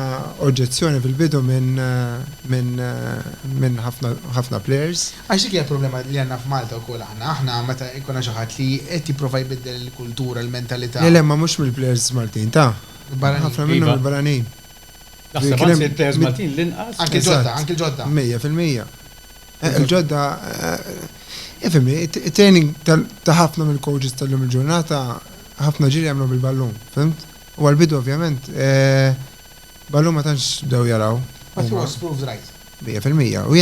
oġġezzjoni fil-bidu minn ħafna players. Għax dik hija l-problema li għandna f'Malta wkoll aħna, aħna meta jkun hawn xi ħadd li qed jipprova jbiddel il-kultura, l-mentalità. Le le, imma mhux mill-players Maltin, ta? Barranin. Ħafna minnhom mill-barranin. Naħseb anzi l-players Maltin l-inqas. Anki l-ġodda, anki l-ġodda. Mija fil-mija. Il-ġodda, ifhimni, it-training ta' ħafna mill-coaches tal-lum il-ġurnata ħafna ġiri jagħmlu bil-ballun, fhimt? U għall-bidu ovvjament ballun ma tantx bdew jaraw. But he was proved right. Mija fil-mija. U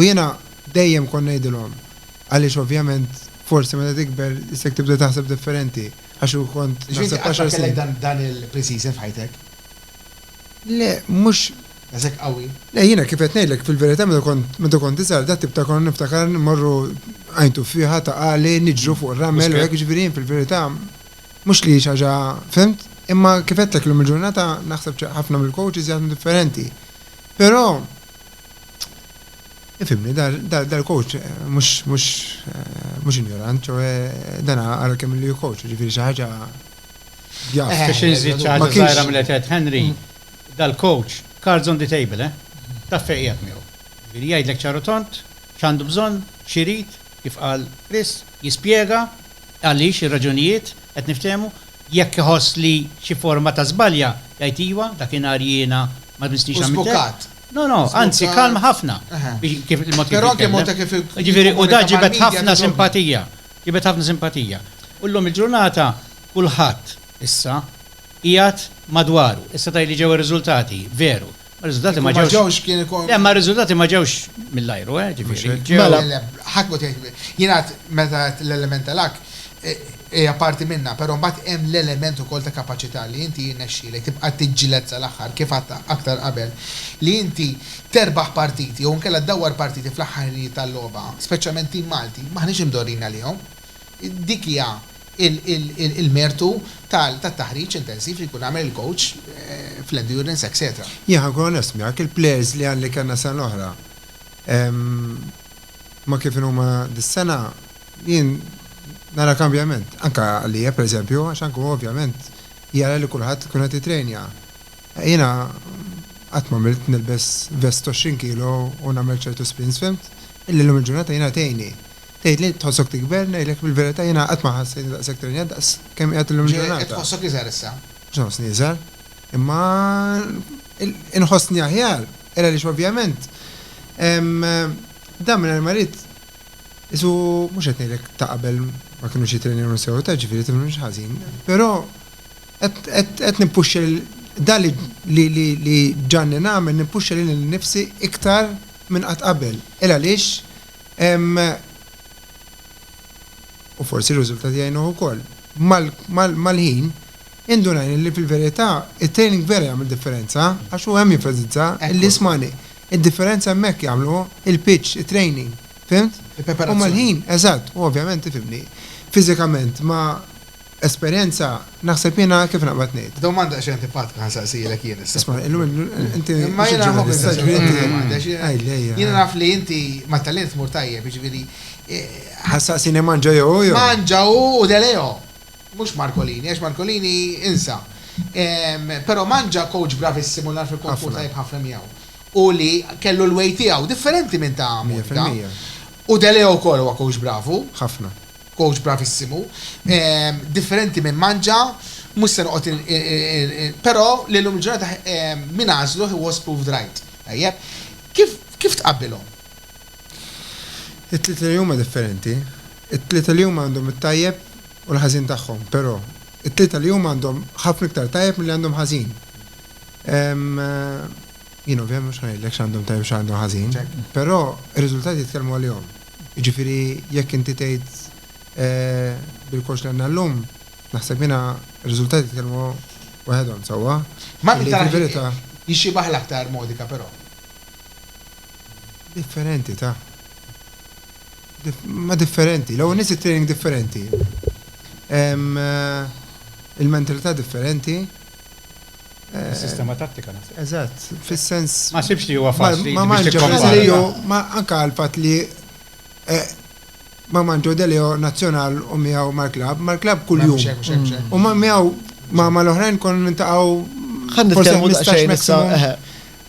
jiena dejjem kont ngħidilhom għaliex ovvjament forsi meta tikber isek tibda taħseb differenti għax kont. Ġifieri inti qatt ma kellek dan il-pre-season f'ħajtek? Le, mhux daqshekk qawwi. Le, jiena kif qed ngħidlek, fil-verità meta kont, meta kont iżgħar, dat-tip ta' konna niftakar immorru għajn tuffieħa ta' għali, niġru fuq ir-ramel u hekk, jiġifieri jien fil-verità mhux li hi xi ħaġa, fimt? Imma kif għedtlek illum il-ġurnata naħseb ċ, ħafna mill-coaches jaħdmu differenti. Però, ifhimni, dal-coach mhux, mhux, mhux injorant, ċoe dan ara kemm ilu jikkoach, jiġifieri xi ħaġa, Biex inżid xi ħaġa żgħira mill-li qed jgħid Henry, dal-coach cards on the table, eh? Taf fejn qiegħed miegħu. Jiġifieri jgħidlek ċar u tond x'għandu bżonn, x'irid, kif qal Chris, jispjega għaliex, ir-raġunijiet, qed niftehmu? Jekk iħoss li xi forma ta' żbalja, jgħid iva, dakinhar jiena ma mistnix għamilt hekk. U żbukat. No, no, anzi kalm ħafna. Biex kif il-mod kif jitkellem. Però anke mod ta' kif il-. Jiġifieri u dan ġibed ħafna simpatija. Jibgħat ħafna simpatija. U llum il-ġurnata kulħadd issa qiegħed madwaru. Issa tgħidli ġew ir-riżultati, veru. Ma r-riżultati ma ġewx. Le, ma r-riżultati ma ġewx mill-ajru, eh, ġifieri. Mela, le, ħadd m'hu tgħid. Jien għedt meta għedt l-element ta' luck, hija parti minnha, però mbagħad hemm l-element ukoll ta' kapaċità li inti jirnexxielek tibqa' tiġġieled sal-aħħar, kif għedt aktar qabel, li inti terbaħ partiti jew inkella ddawwar partiti fl-aħħar ħinijiet tal-logħba, speċjalment tim Malti, m'aħniex imdorrijin għalihom. Dik hija l-mertu tat-taħriġ intensiv li jkun għamel il-coach fl-endurance etc. Jien ħankun onest miegħek, il-players li li kellna sena l-oħra ma' kif inhuma dis-sena, jien nara kambjament. Anke għalija, pereżempju, għax anke hu ovvjament jara li kulħadd ikun qed jitrejnja. Jiena qatt m'għamilt nilbes vest t'għoxrin kilo u nagħmel ċertu sprints fhimt? Illi llum il-ġurnata jiena tgħinni. Tgħidli tħossok tikber, ngħidlek fil-verità jiena qatt ma ħassejtni daqshekk trenjat daqs kemm qiegħed illum il-ġurnata. Qed tħossok iżgħar issa? Mhux nħossni iżgħar. Imma inħossni aħjar. Era għaliex ovvjament dan mingħajr ma rid qisu mhux qed ngħidlek ta' qabel ma kinux jittrenjawni sew ta' ġifieri tifhimni mhux ħażin. Però. Qed nimpuxxa lil, dan li ġġanni nagħmel nimpuxxa lili nnifsi iktar minn qatt qabel. Il għaliex hemm, u forsi r-riżultati jgħinuh ukoll, mal-ħin indunajna li fil-verità t-training vera jagħmel differenza għax hu hemm jenfasizza li ismagħni, id-differenza hemmhekk jagħmlu il-pitch, it-training, fhimt? U mal-ħin, eżatt, u ovvjament, tifhimni, fiżikament ma. Esperjenza, naħseb jiena kif naqbad ngħid. Domanda daqsxejn antipatika ħa nsaqsielek jien issa. Isma', illum il-ġurnata inti xi ġurnalista kbir inti. Imma jiena nħobb insaqsik din id-domanda għax jiena naf li inti mat-tagħlim tmur tajjeb, jiġifieri. Ħa ssaqsini Mangia jew hu jew. Mangia hu u De Leo. Mhux Marcolini għax Marcolini insa. Però Mangia kowċ bravissimu li nagħraf li kont tmur tajjeb ħafna miegħu u li kellu l-way tiegħu differenti minn ta' Monika. Mija fil-mija. U De Leo wkoll huwa kowċ bravu. Ħafna. Coach bravissimu. Differenti minn Mangia, mhux se noqgħod però li llum il-ġurnata min għażlu he was proved right. Tajjeb. Kif kif tqabbilhom? It-tlieta li huma differenti. It-tlieta li huma għandhom it-tajjeb u l-ħażin tagħhom, però it-tlieta li huma għandhom ħafna iktar tajjeb milli għandhom ħażin. Jien ovvjament mhux ħa ngħidlek x'għandhom tajjeb u x'għandhom ħażin, però r-riżultati jitkellmu għalihom. Jiġifieri jekk inti tgħid bil-kors li għandna llum, naħseb jiena r-riżultati jitkellmu waħedhom, sewwa? Malti tarax jixxibah l-aktar Modica però. Differenti ta. Ma differenti. L-ewwel nett it-training differenti. Il-mentalità differenti. Sistema tattika naħseb. Eżatt, fis-sens. Ma sibx li huwa faċli. Ma ma ġew ma anke għal fatt li eh, ma manġu delio nazzjonal u miegħu mal-klab, mal-klab kuljum. U ma miegħu ma ma l-oħrajn kon nintaqgħu. Ħan nitkellmu daqsxejn issa.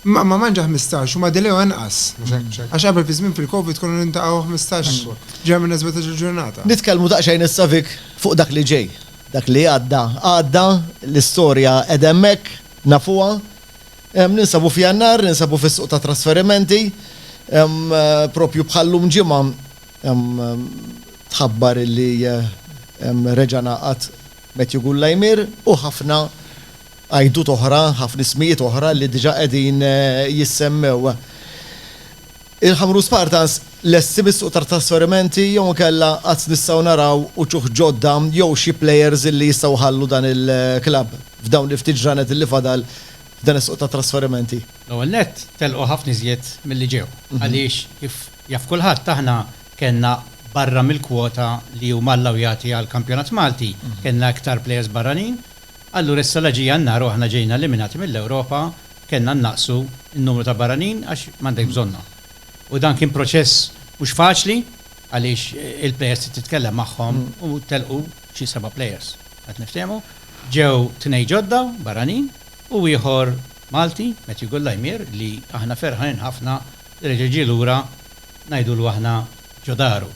Ma ma manġa 15 u ma delio anqas. Għax qabel fi żmien fil-Covid konu nintaqgħu 15 ġemna 17 ġurnata. Nitkellmu daqsxejn issa vik fuq dak li ġej. Dak li għadda, għadda, l-istorja qiegħda hemmhekk, nafuha. Ninsabu f'Jannar, ninsabu fis-suq tat-trasferimenti. Proprju bħal-lum ġimgħa tħabbar li reġa' ngħaqad Matthew Gullaymir u ħafna għajdut oħra, ħafna ismijiet oħra li diġà qegħdin jissemmew. Il-Ħamrun Spartans lesti bis-suq ta' trasferimenti jew inkella għad nistgħu naraw uċuħ ġodda jew xi players li jistgħu jħallu dan il-klabb f'dawn il-ftit ġranet li fadal f'dan is-suq ta' trasferimenti? L-ewwel nett telqu ħafna iżjed milli ġew għaliex kif jaf kulħadd aħna kellna barra mill-kwota li huma allawjati għall-kampjonat Malti kellna iktar players barranin, allura issa la ġie Jannar u aħna ġejna eliminati mill-Ewropa, kellna nnaqqsu n-numru ta' barranin għax m'għandek bżonnhom. U dan kien proċess mhux faċli għaliex il-plejers trid titkellem magħhom u telqu xi seba' plejers. Qed niftehmu? Ġew tnejn ġodda barranin u ieħor Malti, Matthew Gullaymir, li aħna ferħanin ħafna li reġa' ġie lura ngħidulu aħna ġo daru.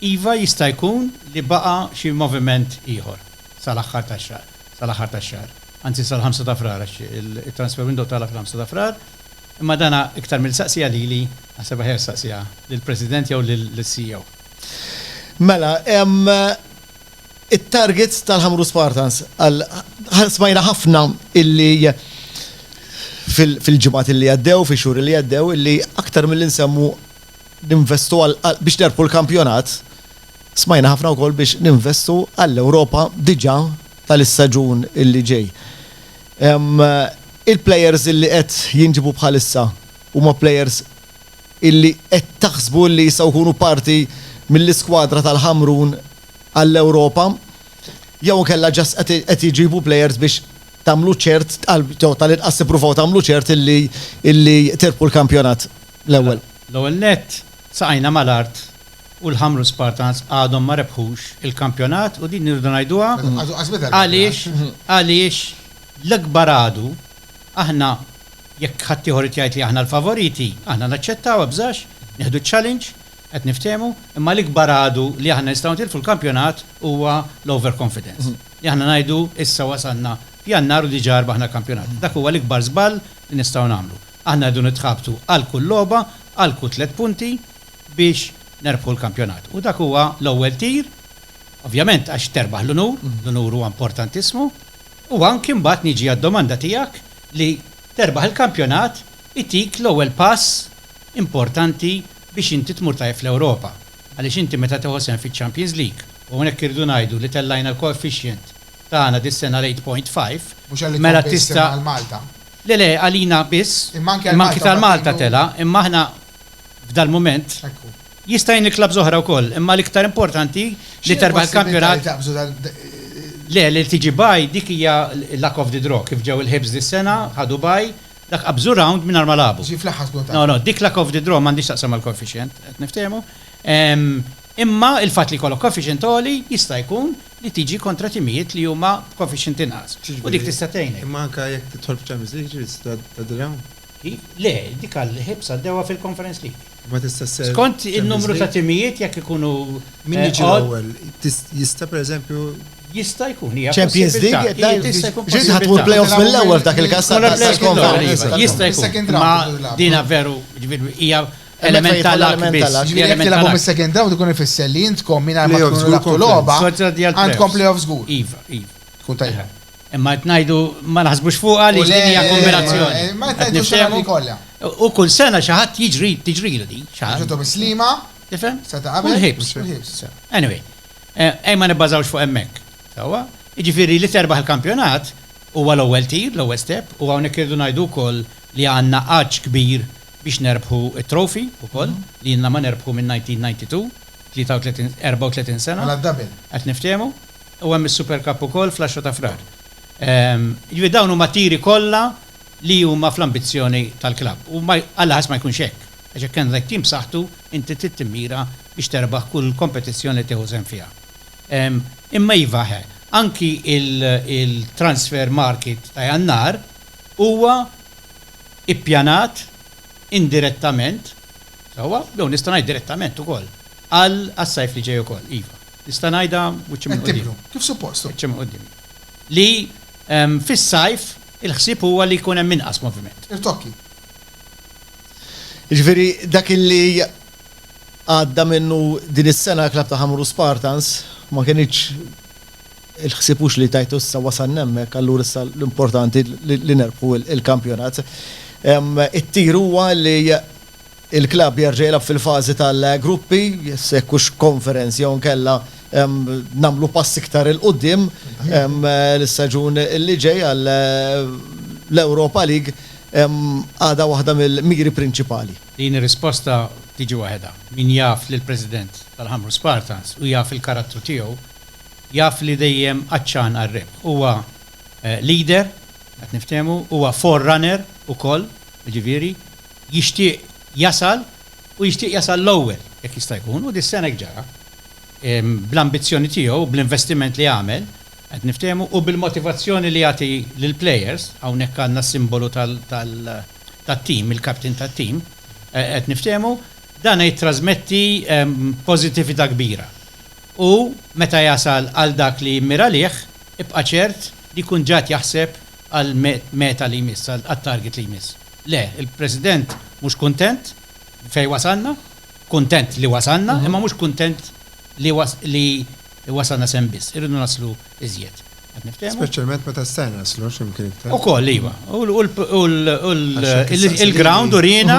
Iva jista' jkun li baqa' xi moviment ieħor sal-aħħar tax-xahar. sal-aħħar tax-xahar, anzi sal-ħamsa ta' Frar għax it-transfer window tagħlaq fil-ħamsa ta' Frar, imma dan iktar milli saqsieha lili naħseb aħjar saqsieha lill-President jew lis-CEO. Mela, it-targets tal-Ħamrun Spartans għal smajna ħafna illi fil-ġimgħat illi għaddew, fix-xhur illi għaddew, illi aktar milli nsemmu ninvestu għal biex nerbħu l-kampjonat, smajna ħafna wkoll biex ninvestu għall-Ewropa diġà tal-istaġun li ġej. Il-plejers li qed jinġibu bħalissa huma plejers li qed taħsbu li jistgħu jkunu parti mill-iskwadra tal-Ħamrun għall-Ewropa? Jew inkella ġast qed iġibu plejers biex tagħmlu ċert jew tal-inqas tippruvaw tagħmlu ċert li tirbħu l-kampjonat? l-ewwel. L-ewwel nett, saqajna mal-art u l-Ħamrun Spartans għadhom ma rebħux il-kampjonat u din irridu ngħiduha għaliex għaliex l-ikbar għadu aħna jekk ħaddieħor irid jgħid li aħna l-favoriti aħna naċċettaw ebżax, nieħdu ċ-challenge, qed niftehmu, imma l-ikbar għadu li aħna nistgħu nitilfu l-kampjonat huwa l-overconfidence. Li aħna ngħidu issa wasalna f'Jannar u diġà rbaħna l-kampjonat. Dak huwa l-ikbar żball li nistgħu nagħmlu. Aħna rridu nitħabtu għal kull logħba, għal kull tliet punti biex nerbħu l-kampjonat. U dak huwa l-ewwel tir, ovvjament għax terbaħ l-unur, l-unur huwa importantissimu, u anki mbagħad niġi għad-domanda tiegħek li terbaħ il-kampjonat itik l-ewwel pass importanti biex inti tmur tajjeb fl-Ewropa. Għaliex inti meta tieħu sehem fiċ-Champions League, u hawnhekk irridu ngħidu li tellajna l-coefficient tagħna dis-sena l-8.5, mela tista'. Mhux għalli tkompeti sehem għal Malta. Le, le, għalina biss, imma anki tal Malta tela', imma aħna f'dal mument, jista' jgħin il-klabbs oħra wkoll, imma l-iktar importanti li terbaħ il-kampjonat. Le, li tiġi bye dik hija luck of the draw, kif ġew il-Hibs dis-sena, ħadu bye, dak qabżu round mingħajr ma lagħbu. Ġie fl-aħħar skont għalih. No, no, dik luck of the draw m'għandhiex x'taqsam mal-coefficient, qed niftehmu, imma il-fatt li jkollok coefficient għoli jista' jkun, li tiġi kontra timijiet li huma b'coefficient inqas u dik tista' tgħinek. Imma anke jekk tidħol f'Champions League jiġifieri tista' tgħaddilha hawn? Kif? Le, dik għall-Hibs għaddewha fil-Conference League. Imma tista' sser Champions League? Skont in-numru ta' timijiet jekk ikunu Min jiġi l-ewwel? Jista' pereżempju Jista' jkun, hija possibbiltà. Champions League tista' jkun possibbiltà. Ġiet ħa tmur play-offs mill-ewwel f'dak il-każ tal-Conference League. Jista' jkun, imma dina veru, jiġifieri hija Element ta' luck biss. Jekk jidħol element ta' luck. Jekk tilagħbu mis-second round ikun ifisser li intkom mingħajr ma tkunu laħqtu logħba għandkom playoff żgur. Iva, iva. Tkun tajba. Imma qed ngħidu ma naħsbux fuqha għaliex din hija kombinazzjoni. Ma tgħidux x'għamilna kollha. U kull sena xi ħadd jiġri tiġrilu din. Ġitu mislima. Tifhem? Sa ta' qabel. Ħibs. Anyway. Ejja ma nibbażawx fuq hemmhekk. Sewwa? Jiġifieri li terbaħ il-kampjonat huwa l-ewwel tir, l-ewwel step, u hawnhekk irridu ngħidu wkoll li għandna għatx kbir biex nerbħu t-trophy ukoll li ilna ma nerbħu minn 1992, 34 sena. Mela d-double. Qed niftehmu. U hemm is-Super Cup ukoll fl-10 ta' Frar. Jiġifieri dawn huma tiri kollha li huma fl-ambizzjoni tal-klabb. U Alla ħass ma jkunx hekk. Għax jekk għandek tim b'saħħtu inti trid timmira biex terbaħ kull kompetizzjoni li tieħu sehem fiha. Imma iva ħe, anki il-transfer market ta' Jannar huwa, ippjanat indirettament, sewwa, jew nista' ngħid direttament ukoll, għal għas-sajf li ġej ukoll, iva. Nista' ngħidha wiċċi minn quddiem. Għidtiblu, kif suppost. Wiċċi minn quddiem. Li fis-sajf il-ħsieb huwa li jkun hemm inqas moviment. Irtokki. Jiġifieri dak li għadda minnu din is-sena l-klabb ta' Ħamrun Spartans ma kinitx Il-ħsieb hux li tajtu issa wasalna hemmhekk allura issa l-importanti li nerbħu l-kampjonat. It-tir huwa li l-klabb jerġa' jilgħab fil-fażi tal-gruppi, se jekk hux Conference jew inkella nagħmlu pass iktar 'il quddiem l-istaġun li ġej għall-Europa League għadha waħda mill-miri prinċipali. Din ir-risposta tiġi waħedha. Min jaf lill-President tal-Ħamrun Spartans u jaf il-karattru tiegħu, jaf li dejjem għatxan għar-rebħ. Huwa leader, qed niftehmu, huwa forerunner ukoll, jiġifieri jixtieq jasal u jixtieq jasal l-ewwel jekk jista' jkun u dis-sena hekk ġara. Bl-ambizzjoni tiegħu u bl-investiment li għamel, qed niftehmu, u bil-motivazzjoni li jagħti lill-players, hawnhekk għandna s-simbolu tat-tim, il-captain tat-tim, qed niftehmu, dan jittrażmetti pożittività kbira. U meta jasal għal dak li jimmira għalih, ibqa' ċert li jkun ġad jaħseb għall-meta li jmiss, għat-target li jmiss. Le, il-President mhux kuntent b'fejn wasalna, kuntent li wasalna, imma mhux kuntent li wasalna s'hemm biss. Irridu naslu iżjed. Qed niftehmu? Speċjalment meta s'se naslu x'imkien iktar. Ukoll, iva. U l-ground uriena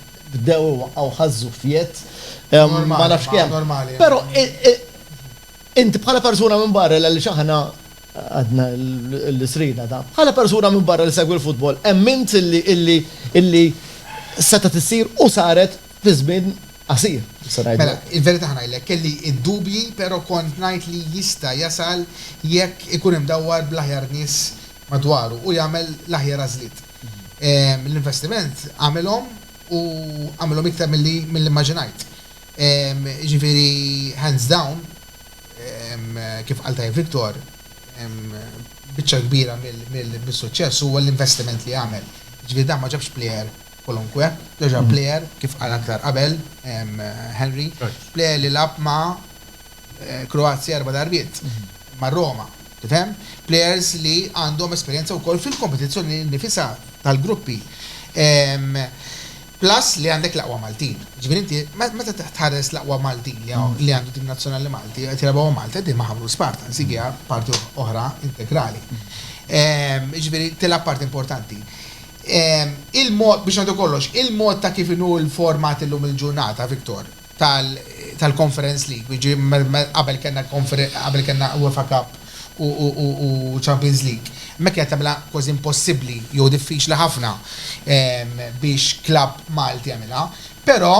bdew iwaqqgħu ħaż-żuffiet, ma nafx kemm. Però int bħala persuna minn barra għaliex aħna għadna l-isrina ta'. Bħala persuna minn barra li segwi l-futbol, emmint illi setgħet issir u saret fi żmien qasir, se ngħidlek. Mela, il-verità ħa ngħidlek, kelli d-dubji però kont ngħid li jista' jasal jekk ikun imdawwar bl-aħjar nies madwaru u jagħmel l-aħjar għażliet. L-investiment għamilhom u għamilhom iktar milli mmaġinajt. Jiġifieri hands down, kif qal tajjeb Victor, biċċa l-kbira mis-suċċess huwa l-investiment li għamel. Jiġifieri dan ma ġabx plejer kwalunkwe, dan ġab plejer, kif qal aktar qabel Henry, plejer li lagħab ma' Kroazja erba' darbiet, ma' Roma, Tifhem? Plejers li għandhom esperjenza wkoll fil-kompetizzjoni nnifisha tal-gruppi. Plus li għandek l-aqwa Maltin. Ġifieri inti meta tħares l-aqwa Maltin li għandu tim nazzjonali Malti qed jilagħbu ma' Malta, din ma' Ħamrun Spartans, dik hija parti oħra integrali. Jiġifieri tilgħab parti importanti. Il-mod, biex ngħidu kollox, il-mod ta' kif inhu l-format illum il-ġurnata, Victor, tal-Conference League, jiġifieri qabel kellna qabel kellna UEFA Cup u Champions League, hemmhekk kienet tagħmilha kważi impossibbli jew diffiċli ħafna biex klabb Malti jagħmilha, però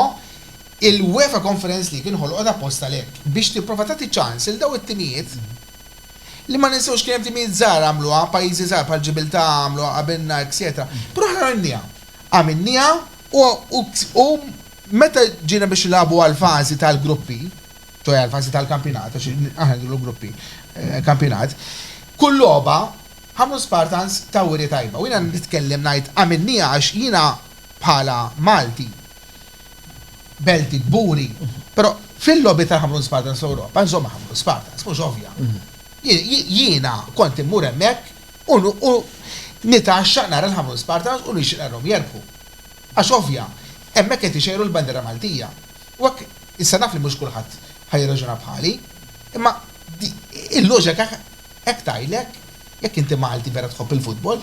l-UEFA Conference League inħolqot apposta għalhekk, biex tipprova tagħti ċans lil dawn it-timijiet li ma ninsewx kien hemm timijiet żgħar għamluha, pajjiżi żgħar bħal Ġibiltà għamluha qabilna, etċetera, però aħna għamilniha. Għamilniha u Meta ġiena biex nilagħbu għall-fażi tal-gruppi, ċoe għall-fażi tal-kampjonat, għax aħna ngħidulu gruppi, kampjonat, kull logħba Ħamrun Spartans taw wirja tajba. U jiena nitkellem ngħid għamilniha għax jiena bħala Malti, Belti, kburi, però fil-logħbiet tal-Ħamrun Spartans fl-Ewropa nżomm Ħamrun Spartans, mhux ovvja. Jiena kont immur hemmhekk u nitgħaxxaq nara l-Ħamrun Spartans u nixtieq narahom jerbħu. Għax ovvja, hemmhekk qed ixejru l-bandiera Maltija. U hekk, issa naf li mhux kulħadd ħa jirraġuna bħali, imma il-loġika hekk tgħidlek jekk inti Malti vera tħobb il-futbol.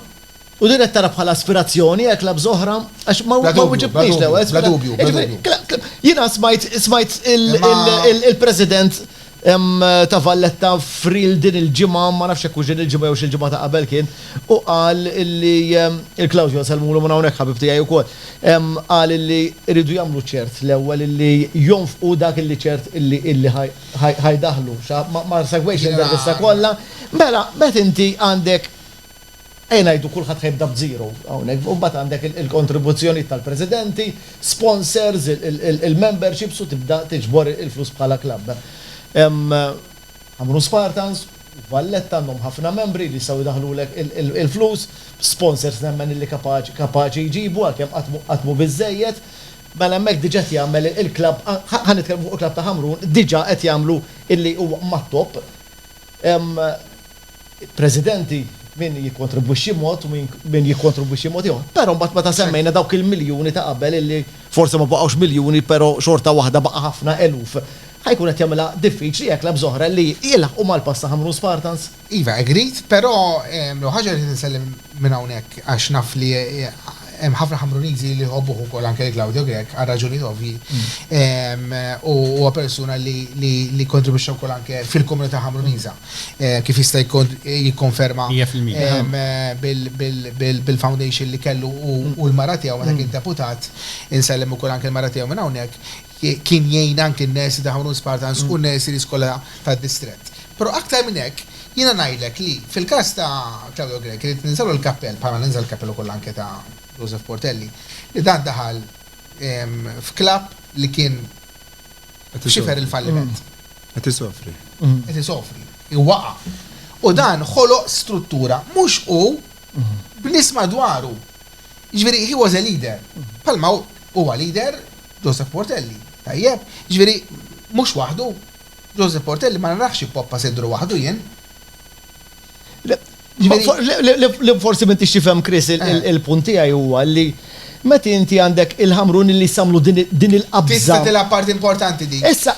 U din qed tara bħala aspirazzjoni hekk la bż'oħra? Għax ma wiġibtnix l-ewwel. Bla dubju, bla dubju, bla dubju. Jiena smajt il-President Hemm ta' Valletta f'reel din il-ġimgħa, ma nafx jekk hux din il-ġimgħa jewx il-ġimgħa ta' qabel kien, u qal illi, il-Klawdja nsellmulu minn hawnhekk ħabib tiegħi wkoll, qal illi jridu jagħmlu ċert l-ewwel illi jonfqu dak illi ċert illi illi ħa jdaħħlu. Ma segwejtx l-intervista kollha. Mela, meta inti għandek Ejja ngħidu kulħadd ħa jibda b'zero hawnhekk, u mbagħad għandek il-kontribuzzjonijiet tal-presidenti, sponsors, il-memberships u tibda tiġbor il-flus bħala klabb. Ħamrun Spartans u Valletta għandhom ħafna membri li jistgħu jdaħħlulek il-flus, sponsors nemmen illi kapaċi jġibu għalkemm qatt mhu biżżejjed. Mela hemmhekk diġà qed jagħmel il-klabb, ħa nitkellmu fuq il-klabb ta' Ħamrun, diġà qed jagħmlu illi huwa mat-top. Hemm Presidenti min jikkontribwixxi mod u min jikkontribwixxi mod ieħor. Però mbagħad meta semmejna dawk il-miljuni ta' qabel illi forsi ma baqgħux miljuni però xorta waħda baqa' ħafna eluf. Ħa jkun qed jagħmilha diffiċli hekk labża oħra li jilħqu mal-pass ta' Ħamrun Spartans. Iva, agreed, però l-ewwel ħaġa rrid insellem minn hawnhekk għax naf li hemm ħafna Ħamruniżi li jħobbuh ukoll anke lil Claudio Grech għal raġuni ovvji. U huwa persuna li kkontribwixxa wkoll anke fil-komunità Ħamruniża kif jista' jikkonferma bil-foundation li kellu hu u l-mara tiegħu meta kien deputat, insellem ukoll anke l-mara tiegħu minn hawnhekk, Kien jgħin anki n-nursery ta' Ħamrun Spartans u n-nurseries kollha tad-distrett. Però aktar minn hekk, jiena ngħidlek li fil-każ ta' Claudio Grech irrid ninżgħlu l-kappell, bħalma ninża' l-kappell ukoll anke ta' Joseph Portelli, li dan daħal f'club li kien xifer il-falliment. Qed isofri. Qed isofri. Waqa'. U dan ħoloq struttura, mhux hu, b'nies madwaru. Jiġifieri he was a leader. Bħalma hu, huwa leader. Joseph Portelli, Tajjeb, jiġifieri mhux waħdu? Joseph Portelli, Ma narax ippoppa siddru waħdu jien. Li forsi m'intix tifhem Chris il-punt tiegħi huwa li meta inti għandek il-Ħamruni li jagħmlu din il-qabża. Tisfed ilha parti importanti din. Issa,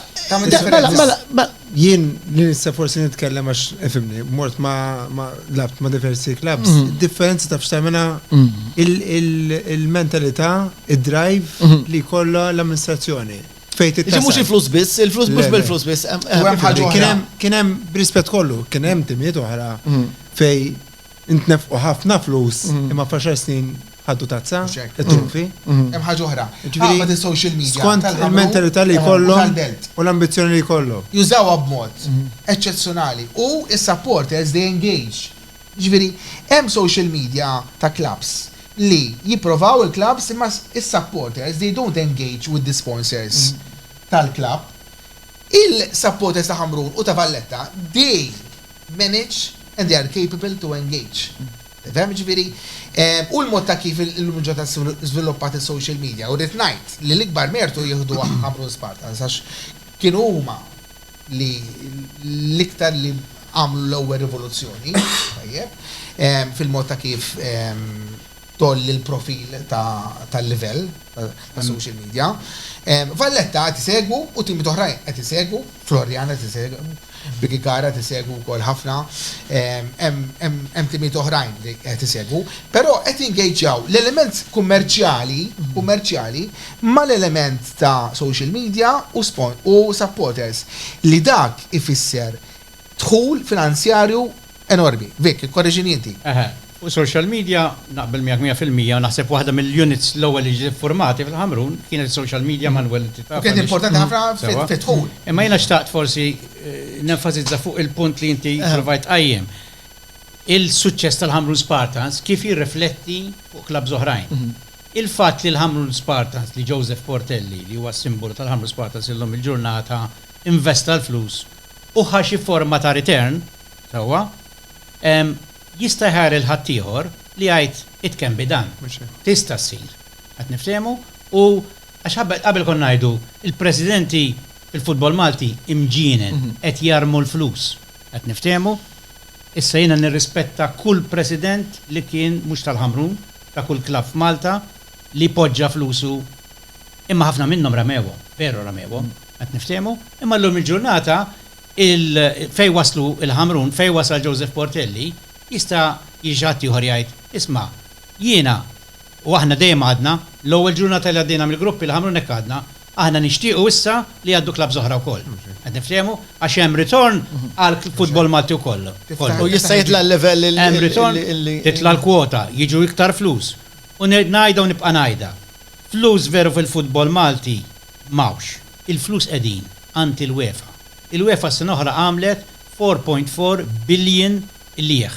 jien li nista' forsi nitkellem għax ifhimni, mort ma' labt ma' diversi klabbs, id-differenza taf x'tagħmilha il-mentalità. id-drive li jkollha l-amministrazzjoni. Fejn tittasal. Iġi mhux il-flus biss, il-flus mhux bil-flus biss. Kien hemm b'rispett kollu, kien hemm timiet oħra fej intnefqu ħafna flus imma faxar snin ħaddu tazza, it-trufi. Hemm ħaġa oħra. Ġifieri social media. Skont il-mentalità li jkollu u l-ambizzjoni li jkollu. Jużawha b'mod eċċezzjonali u s-supporters they engage Jiġifieri hemm social media ta' clubs li jipprovaw il-clubs imma s-supporters they don't engage with the sponsors tal-club. Il-supporters ta' Ħamrun u ta' Valletta they manage and they are capable to engage. Tifhem? Jiġifieri hu l-mod ta' kif illum il-ġurnata żviluppat is-social media u rrid ngħid li l-ikbar mertu jieħduh Ħamrun Spartans għax kienu huma li l-iktar li għamlu l-ewwel rivoluzzjoni, tajjeb, fil-mod ta' kif tgħolli l-profil tal-livell ta' social media. Valletta qed isegwu u teams oħrajn qed isegwu, Floriana qed isegwu, Birkirkara qed isegwu wkoll ħafna, hemm timijiet oħrajn li qed isegwu, però qed jingageġġjaw l-element kummerċjali mal-element ta' social media u supporters li dak ifisser dħul finanzjarju enormi. Vic, ikkorreġini inti. Eħe, fuq social media naqbel miegħek mija fil-mija u naħseb waħda mill-units l-ewwel li ġiet iffurmati fil-Ħamrun kienet is-social media mal-ewwel inti taf għaliex. U kienet importanti ħafna fid-dħul. Imma jiena xtaqt forsi nenfasizza fuq il-punt li inti provajt tqajjem. Il-suċċess tal-Ħamrun Spartans kif jirrifletti fuq klabbs oħrajn. Il-fatt li l-Ħamrun Spartans li Joseph Portelli, li huwa s-simbolu tal-Ħamrun Spartans illum il-ġurnata, investa l-flus u ħa xi forma ta' return, sewwa, jista' jħajjar lil ħaddieħor li jgħid, it can be done, tista' ssir. Qed niftehmu? U għax qabel konna ngħidu, il-presidenti fil-futbol Malti imġienen, qed jarmu l-flus. Qed niftehmu? Issa jiena nirrispetta kull president li kien mhux tal-Ħamrun, ta' kull klabb f'Malta li poġġa flusu imma ħafna minnhom ramewhom, veru ramewhom, qed niftehmu, imma llum il-ġurnata il fejn waslu l-Ħamrun, fejn wasal Joseph Portelli, jista' jiġi xi ħadd ieħor jgħid, isma' jiena u aħna dejjem għadna, l-ewwel ġurnata li għaddejna mill-gruppi l-Ħamrun hekk għadna, Aħna nixtiequ issa li jgħaddu clubs oħra wkoll. Qed niftehmu? Għax hemm ritorn għal futbol Malti wkoll. U jista' jitla' l-livell li. Hemm ritorn, titla' l-kwota, jiġu iktar flus. U ngħidha u nibqa' ngħidha. Flus veru fil-futbol Malti m'hawnx. Il-flus qegħdin għand il-UEFA. Il-UEFA s-sena l-oħra għamlet four point four billion qligħ.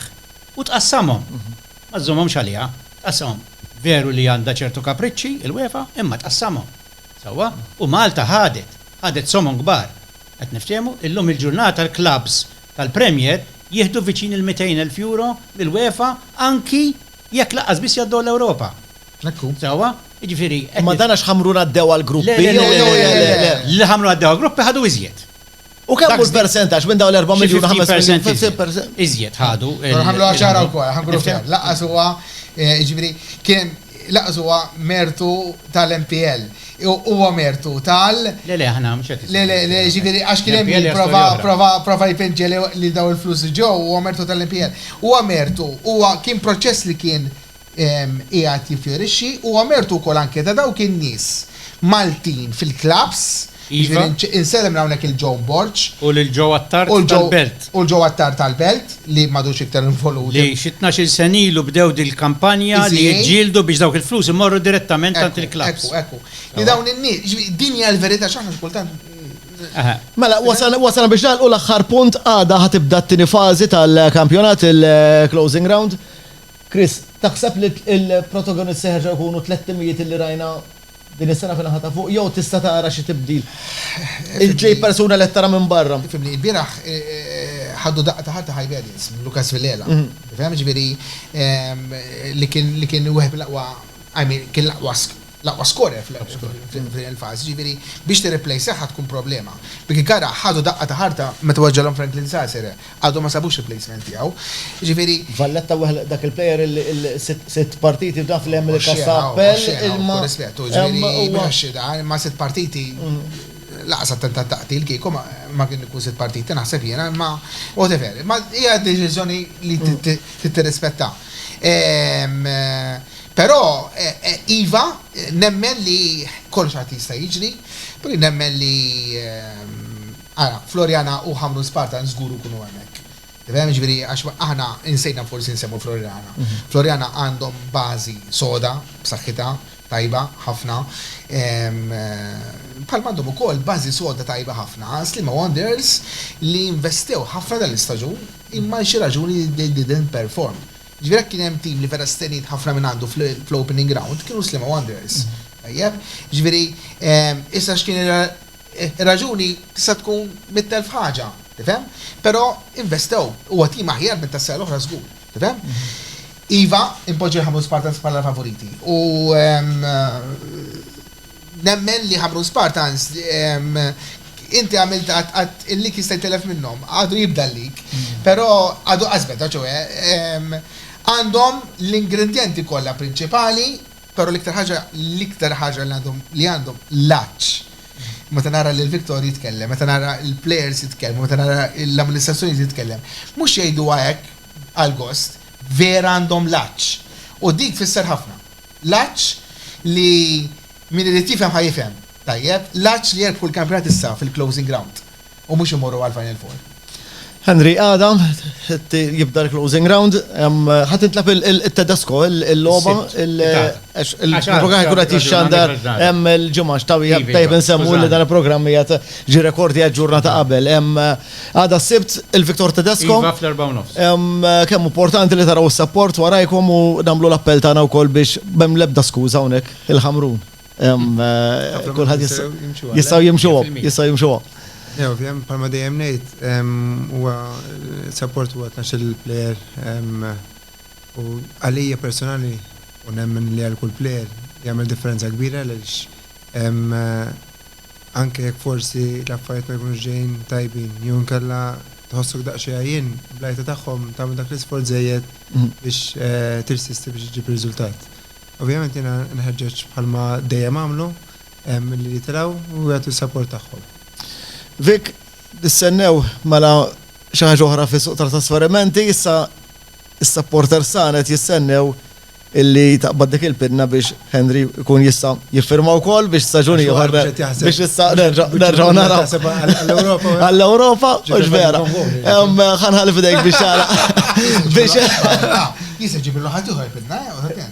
U tqassamhom. Ma żżommhomx għaliha, tqassamhom. Veru li għandha ċertu kapriċċi, il-UEFA, imma tqassamhom. Sewwa? U Malta ħadet, ħadet somon kbar. Qed niftehmu? Illum il-ġurnata l-klabbs tal-Premier jieħdu viċin il-mitejn elf euro mill-UEFA anki jekk lanqas biss jgħaddew l-Ewropa. Hekk hu. Sewwa? Jiġifieri qed. Imma dan għax Ħamrun għaddew għall-gruppi jew? Le, le, le, le, le, le. Li Ħamrun għaddew għall-gruppi ħadu iżjed. U kemm hu l-persentaġġ minn dawn l-4 miljun 50%? Iżjed ħadu. Ħamlu għaxara wkoll, ħamlu ftit. Laqqas huwa, jiġifieri, kien laqqas huwa mertu tal-MPL. Huwa mertu tal. Le, le, aħna mhux qed. Le, le, le, jiġifieri, għax kien hemm min prova, prova, prova jpinġi lil dawn il-flus li ġew, huwa mertu tal-MPL. Huwa mertu, huwa kien proċess li kien qiegħed jiffjorixxi, huwa mertu wkoll anke ta' dawk in-nies Maltin fil-klabbs, jiġifieri insellem minn hawnhekk lil John Borg, U lil Joe Attard tal-Belt. u lil Joe Attard tal-Belt, li m'għadux iktar involut. Li xi tnax-il sena ilu bdew dil-kampanja li jiġġieldu biex dawk il-flus imorru direttament għand il-klabbs. Ekku, ekku, ekku. Li dawn in-nies, jiġifieri din hija l-verità x'aħna xi kultant. Mela, wasalna biex nagħlqu l-aħħar punt, għada ħa tibda t-tieni fażi tal-kampjonat, il-closing round. Chris, taħseb li l-protagonists jerġgħu jkunu tlett timijiet li rajna din is-sena fin-naħa ta' fuq jew tista' tara xi tibdil? Iġġib persuna li qed tara minn barra. Ifhimni, ilbieraħ ħadu daqqa ta' ħarta Hibernians minn Lucas Villela. Tifhem? Jiġifieri li kien wieħed mill-aqwa, I mean, kien l-aqwa L-aqwa skorer f'din il-fażi, jiġifieri biex tirriplejsah għad tkun problema. Birkirkara ħadu daqqa ta' ħarta meta weġġgħilhom Franklin Sasere, għadhom ma sabux replacement tiegħu. Jiġifieri. Valletta weħel dak il-player sitt partiti f'dan fl-hemm li każ ta' appell imma. B'kull rispett, hu jiġifieri mhux xi dan, imma sitt partiti lanqas attentat ta' qtil kieku ma kien ikun sitt partiti naħseb jiena imma whatever. Imma hija deċiżjoni li trid tirrispettha. Però, iva, nemmen li kollox għad jista' jiġri. Però jien nemmen li, ara, Floriana u Ħamrun Spartans żgur ikunu hemmhekk. Tifhem? Jiġifieri għax aħna insejna forsi nsemmu Floriana. Floriana għandhom bażi soda, b'saħħitha, tajba ħafna. Bħalma għandhom ukoll bażi soda tajba ħafna Sliema Wanderers li investew ħafna dan l-istaġun imma għal xi raġuni they didn't perform. Ġifieri jekk kien hemm tim li vera steniet ħafna minn għandu fl-opening round kienu Sliema Wanderers. Tajjeb? Ġifieri issa x'kien ir-raġuni tista' tkun mitt elf ħaġa, tifhem? Però investew, huwa tim aħjar minn tas-sena l-oħra żgur, tifhem? Iva, inpoġġi l-Ħamrun Spartans bħala l-favoriti u Nemmen li Ħamrun Spartans inti għamilt għad il-lik jista' jtellef minnhom, għadu jibda l-lik, però għadu qas beda, ċoe għandhom l-ingredjenti kollha prinċipali, però l-iktar ħaġa l-iktar ħaġa li għandhom li għandhom l-għatx. Meta nara lil Victor jitkellem, meta nara l-plejers jitkellmu, meta nara l-amministrazzjoni titkellem, mhux jgħiduha hekk għall-gost, vera għandhom l-għatx u dik tfisser ħafna. L-għatx li min irid jifhem ħa jifhem, tajjeb, l-għatx li jirbħu l-kampjonat issa fil-closing round u mhux imorru għall-final four. Henry, għada jibda l-closing round, ħa tintlagħab it-Tedesco, il-logħba, il-programm jkun qed jixxandar hemm il-ġimgħa, x'tawwieħ tajjeb insemmu li dan il-programm qiegħed ġie rekordjat ġurnata qabel. Għada s-sibt il-Viktor Tedesco. Iva fl-4 nofs. Kemm importanti li taraw s-sapport warajkom u namlu l-appell tagħna wkoll biex bem lebda skuża hawnhekk il-ħamrun. Kulħadd jistgħu jimxuhom, jistgħu jimxuhom. Jew, ovvjament, bħalma dejjem ngħid, huwa sapport huwa tnax il-plejer u għalija personali u nemmen li għal kull plejer jagħmel differenza kbira għaliex anke jekk forsi l-affarijiet ma jkunux ġejjin tajbin, jew inkella tħossok daqsxejn għajjien, bl-għajta tagħhom tagħmel dak l-isforz żejjed biex tirsisti biex iġġib riżultat. Ovvjament jiena nħeġġeġ bħalma dejjem għamlu, milli jitilgħu u jagħtu s-sapport tagħhom. Vic, Nistennew mela xi ħaġa oħra fis-suq tat-trasferimenti issa? Is-supporters tagħna qed jistennew illi taqbad dik il-pinna biex Henry jkun jista' jiffirma wkoll biex staġun ieħor biex issa nerġgħu naraw. Għall-Ewropa, mhux vera. Ħanħalli fidejk biex tara. Biex. Jisa ġibillu ħadd ieħor pinna,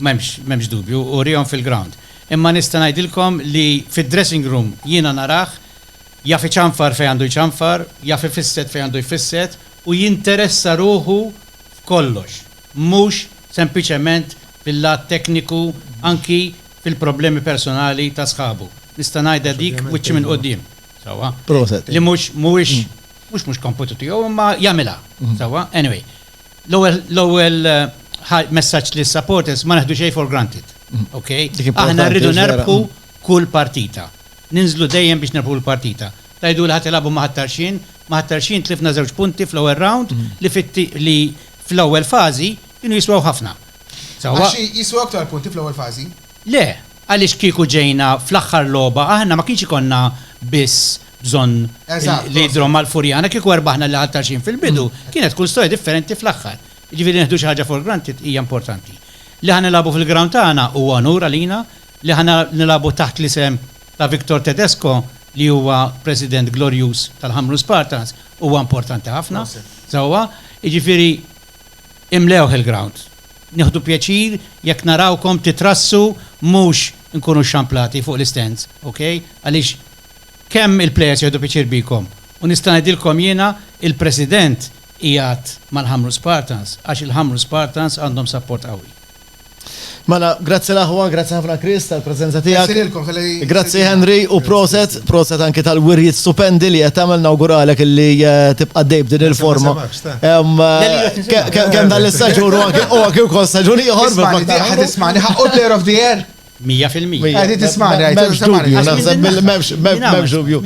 M'hemmx, m'hemmx dubju, urihom fil-ground. Imma nista' ngħidilkom li fid-dressing room jiena narah jaf iċanfar fejn għandu jċanfar, jaf ifisset fejn għandu jfisset u jinteressa ruħu f'kollox, mhux sempliċement fil-lat tekniku anki fil-problemi personali ta' sħabu. Nista' ngħidha dik wiċċi minn quddiem, sewwa? Proset. Li mhux, mhuwiex, mhux mhux kompitu tiegħu imma jagħmilha, sewwa? Anyway. L-ewwel l-ewwel ħa- messaġġ lis-supporters, ma neħdu xejn for granted. Ok? Dik importanti, Aħna rridu vera. nerbħu kull partita. Ninżlu dejjem biex nerbħu l-partita. Tgħiduli ħa tilagħbu ma' Ħat-Tarxien, ma' Ħat-Tarxien tlifna żewġ punti fl-ewwel round li fit-ti li fl-ewwel fażi kienu jiswew ħafna. Sewwa Għax jiswew aktar punti fl-ewwel fażi. Le, għaliex kieku ġejna fl-aħħar logħba aħna ma kienx ikollna biss bżonn li jidhrom mal-Furjana, kieku erbaħna lil Ħal-Tarxien fil-bidu, kienet tkun storja differenti fl-aħħar. Jiġifieri nieħdu xi ħaġa for granted hija importanti. Li ħa nilagħbu fil-ground tagħna huwa onur għalina, li ħa nilagħbu taħt l-isem ta' Victor Tedesco li huwa president glorjuż tal-Ħamrun Spartans huwa importanti ħafna sewwa. Jiġifieri. Imlewh il-grawnd. Nieħdu pjaċir jekk narawkom titrassu mhux inkunu xxamplati fuq l-istands, ok? Għaliex kemm il-players jieħdu pjaċir bikom. U nista' ngħidilkom jiena il-President qiegħed mal-Ħamrun Spartans għax il-Ħamrun Spartans għandhom sapport qawwi. Mela, grazzi l-aħwa, grazzi ħafna Chris tal-preżenza tiegħek. Grazzi lilkom tal-li. Grazzi Henry u proset, proset anki tal-wirjiet stupendi li qed tagħmel nawguralek illi eh, tibqa' dej b'din il-forma. Kemm dan l-istaġun u anki u anki wkoll staġun ieħor bil-Paktar. Tismani, ħaqqu player of the year. 100%. Għadi tismani, għajti tismani. Memx dubju.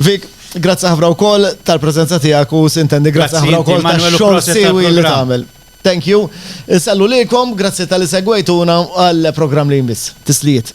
Vik, grazzi ħafna wkoll tal-preżenza tiegħek u sintendi grazzi ħafna wkoll tal-xogħol siwi li tagħmel. Thank you. Insallu lilkom, grazzi talli segwejtuna u għall-programm li jmiss. Tislijiet.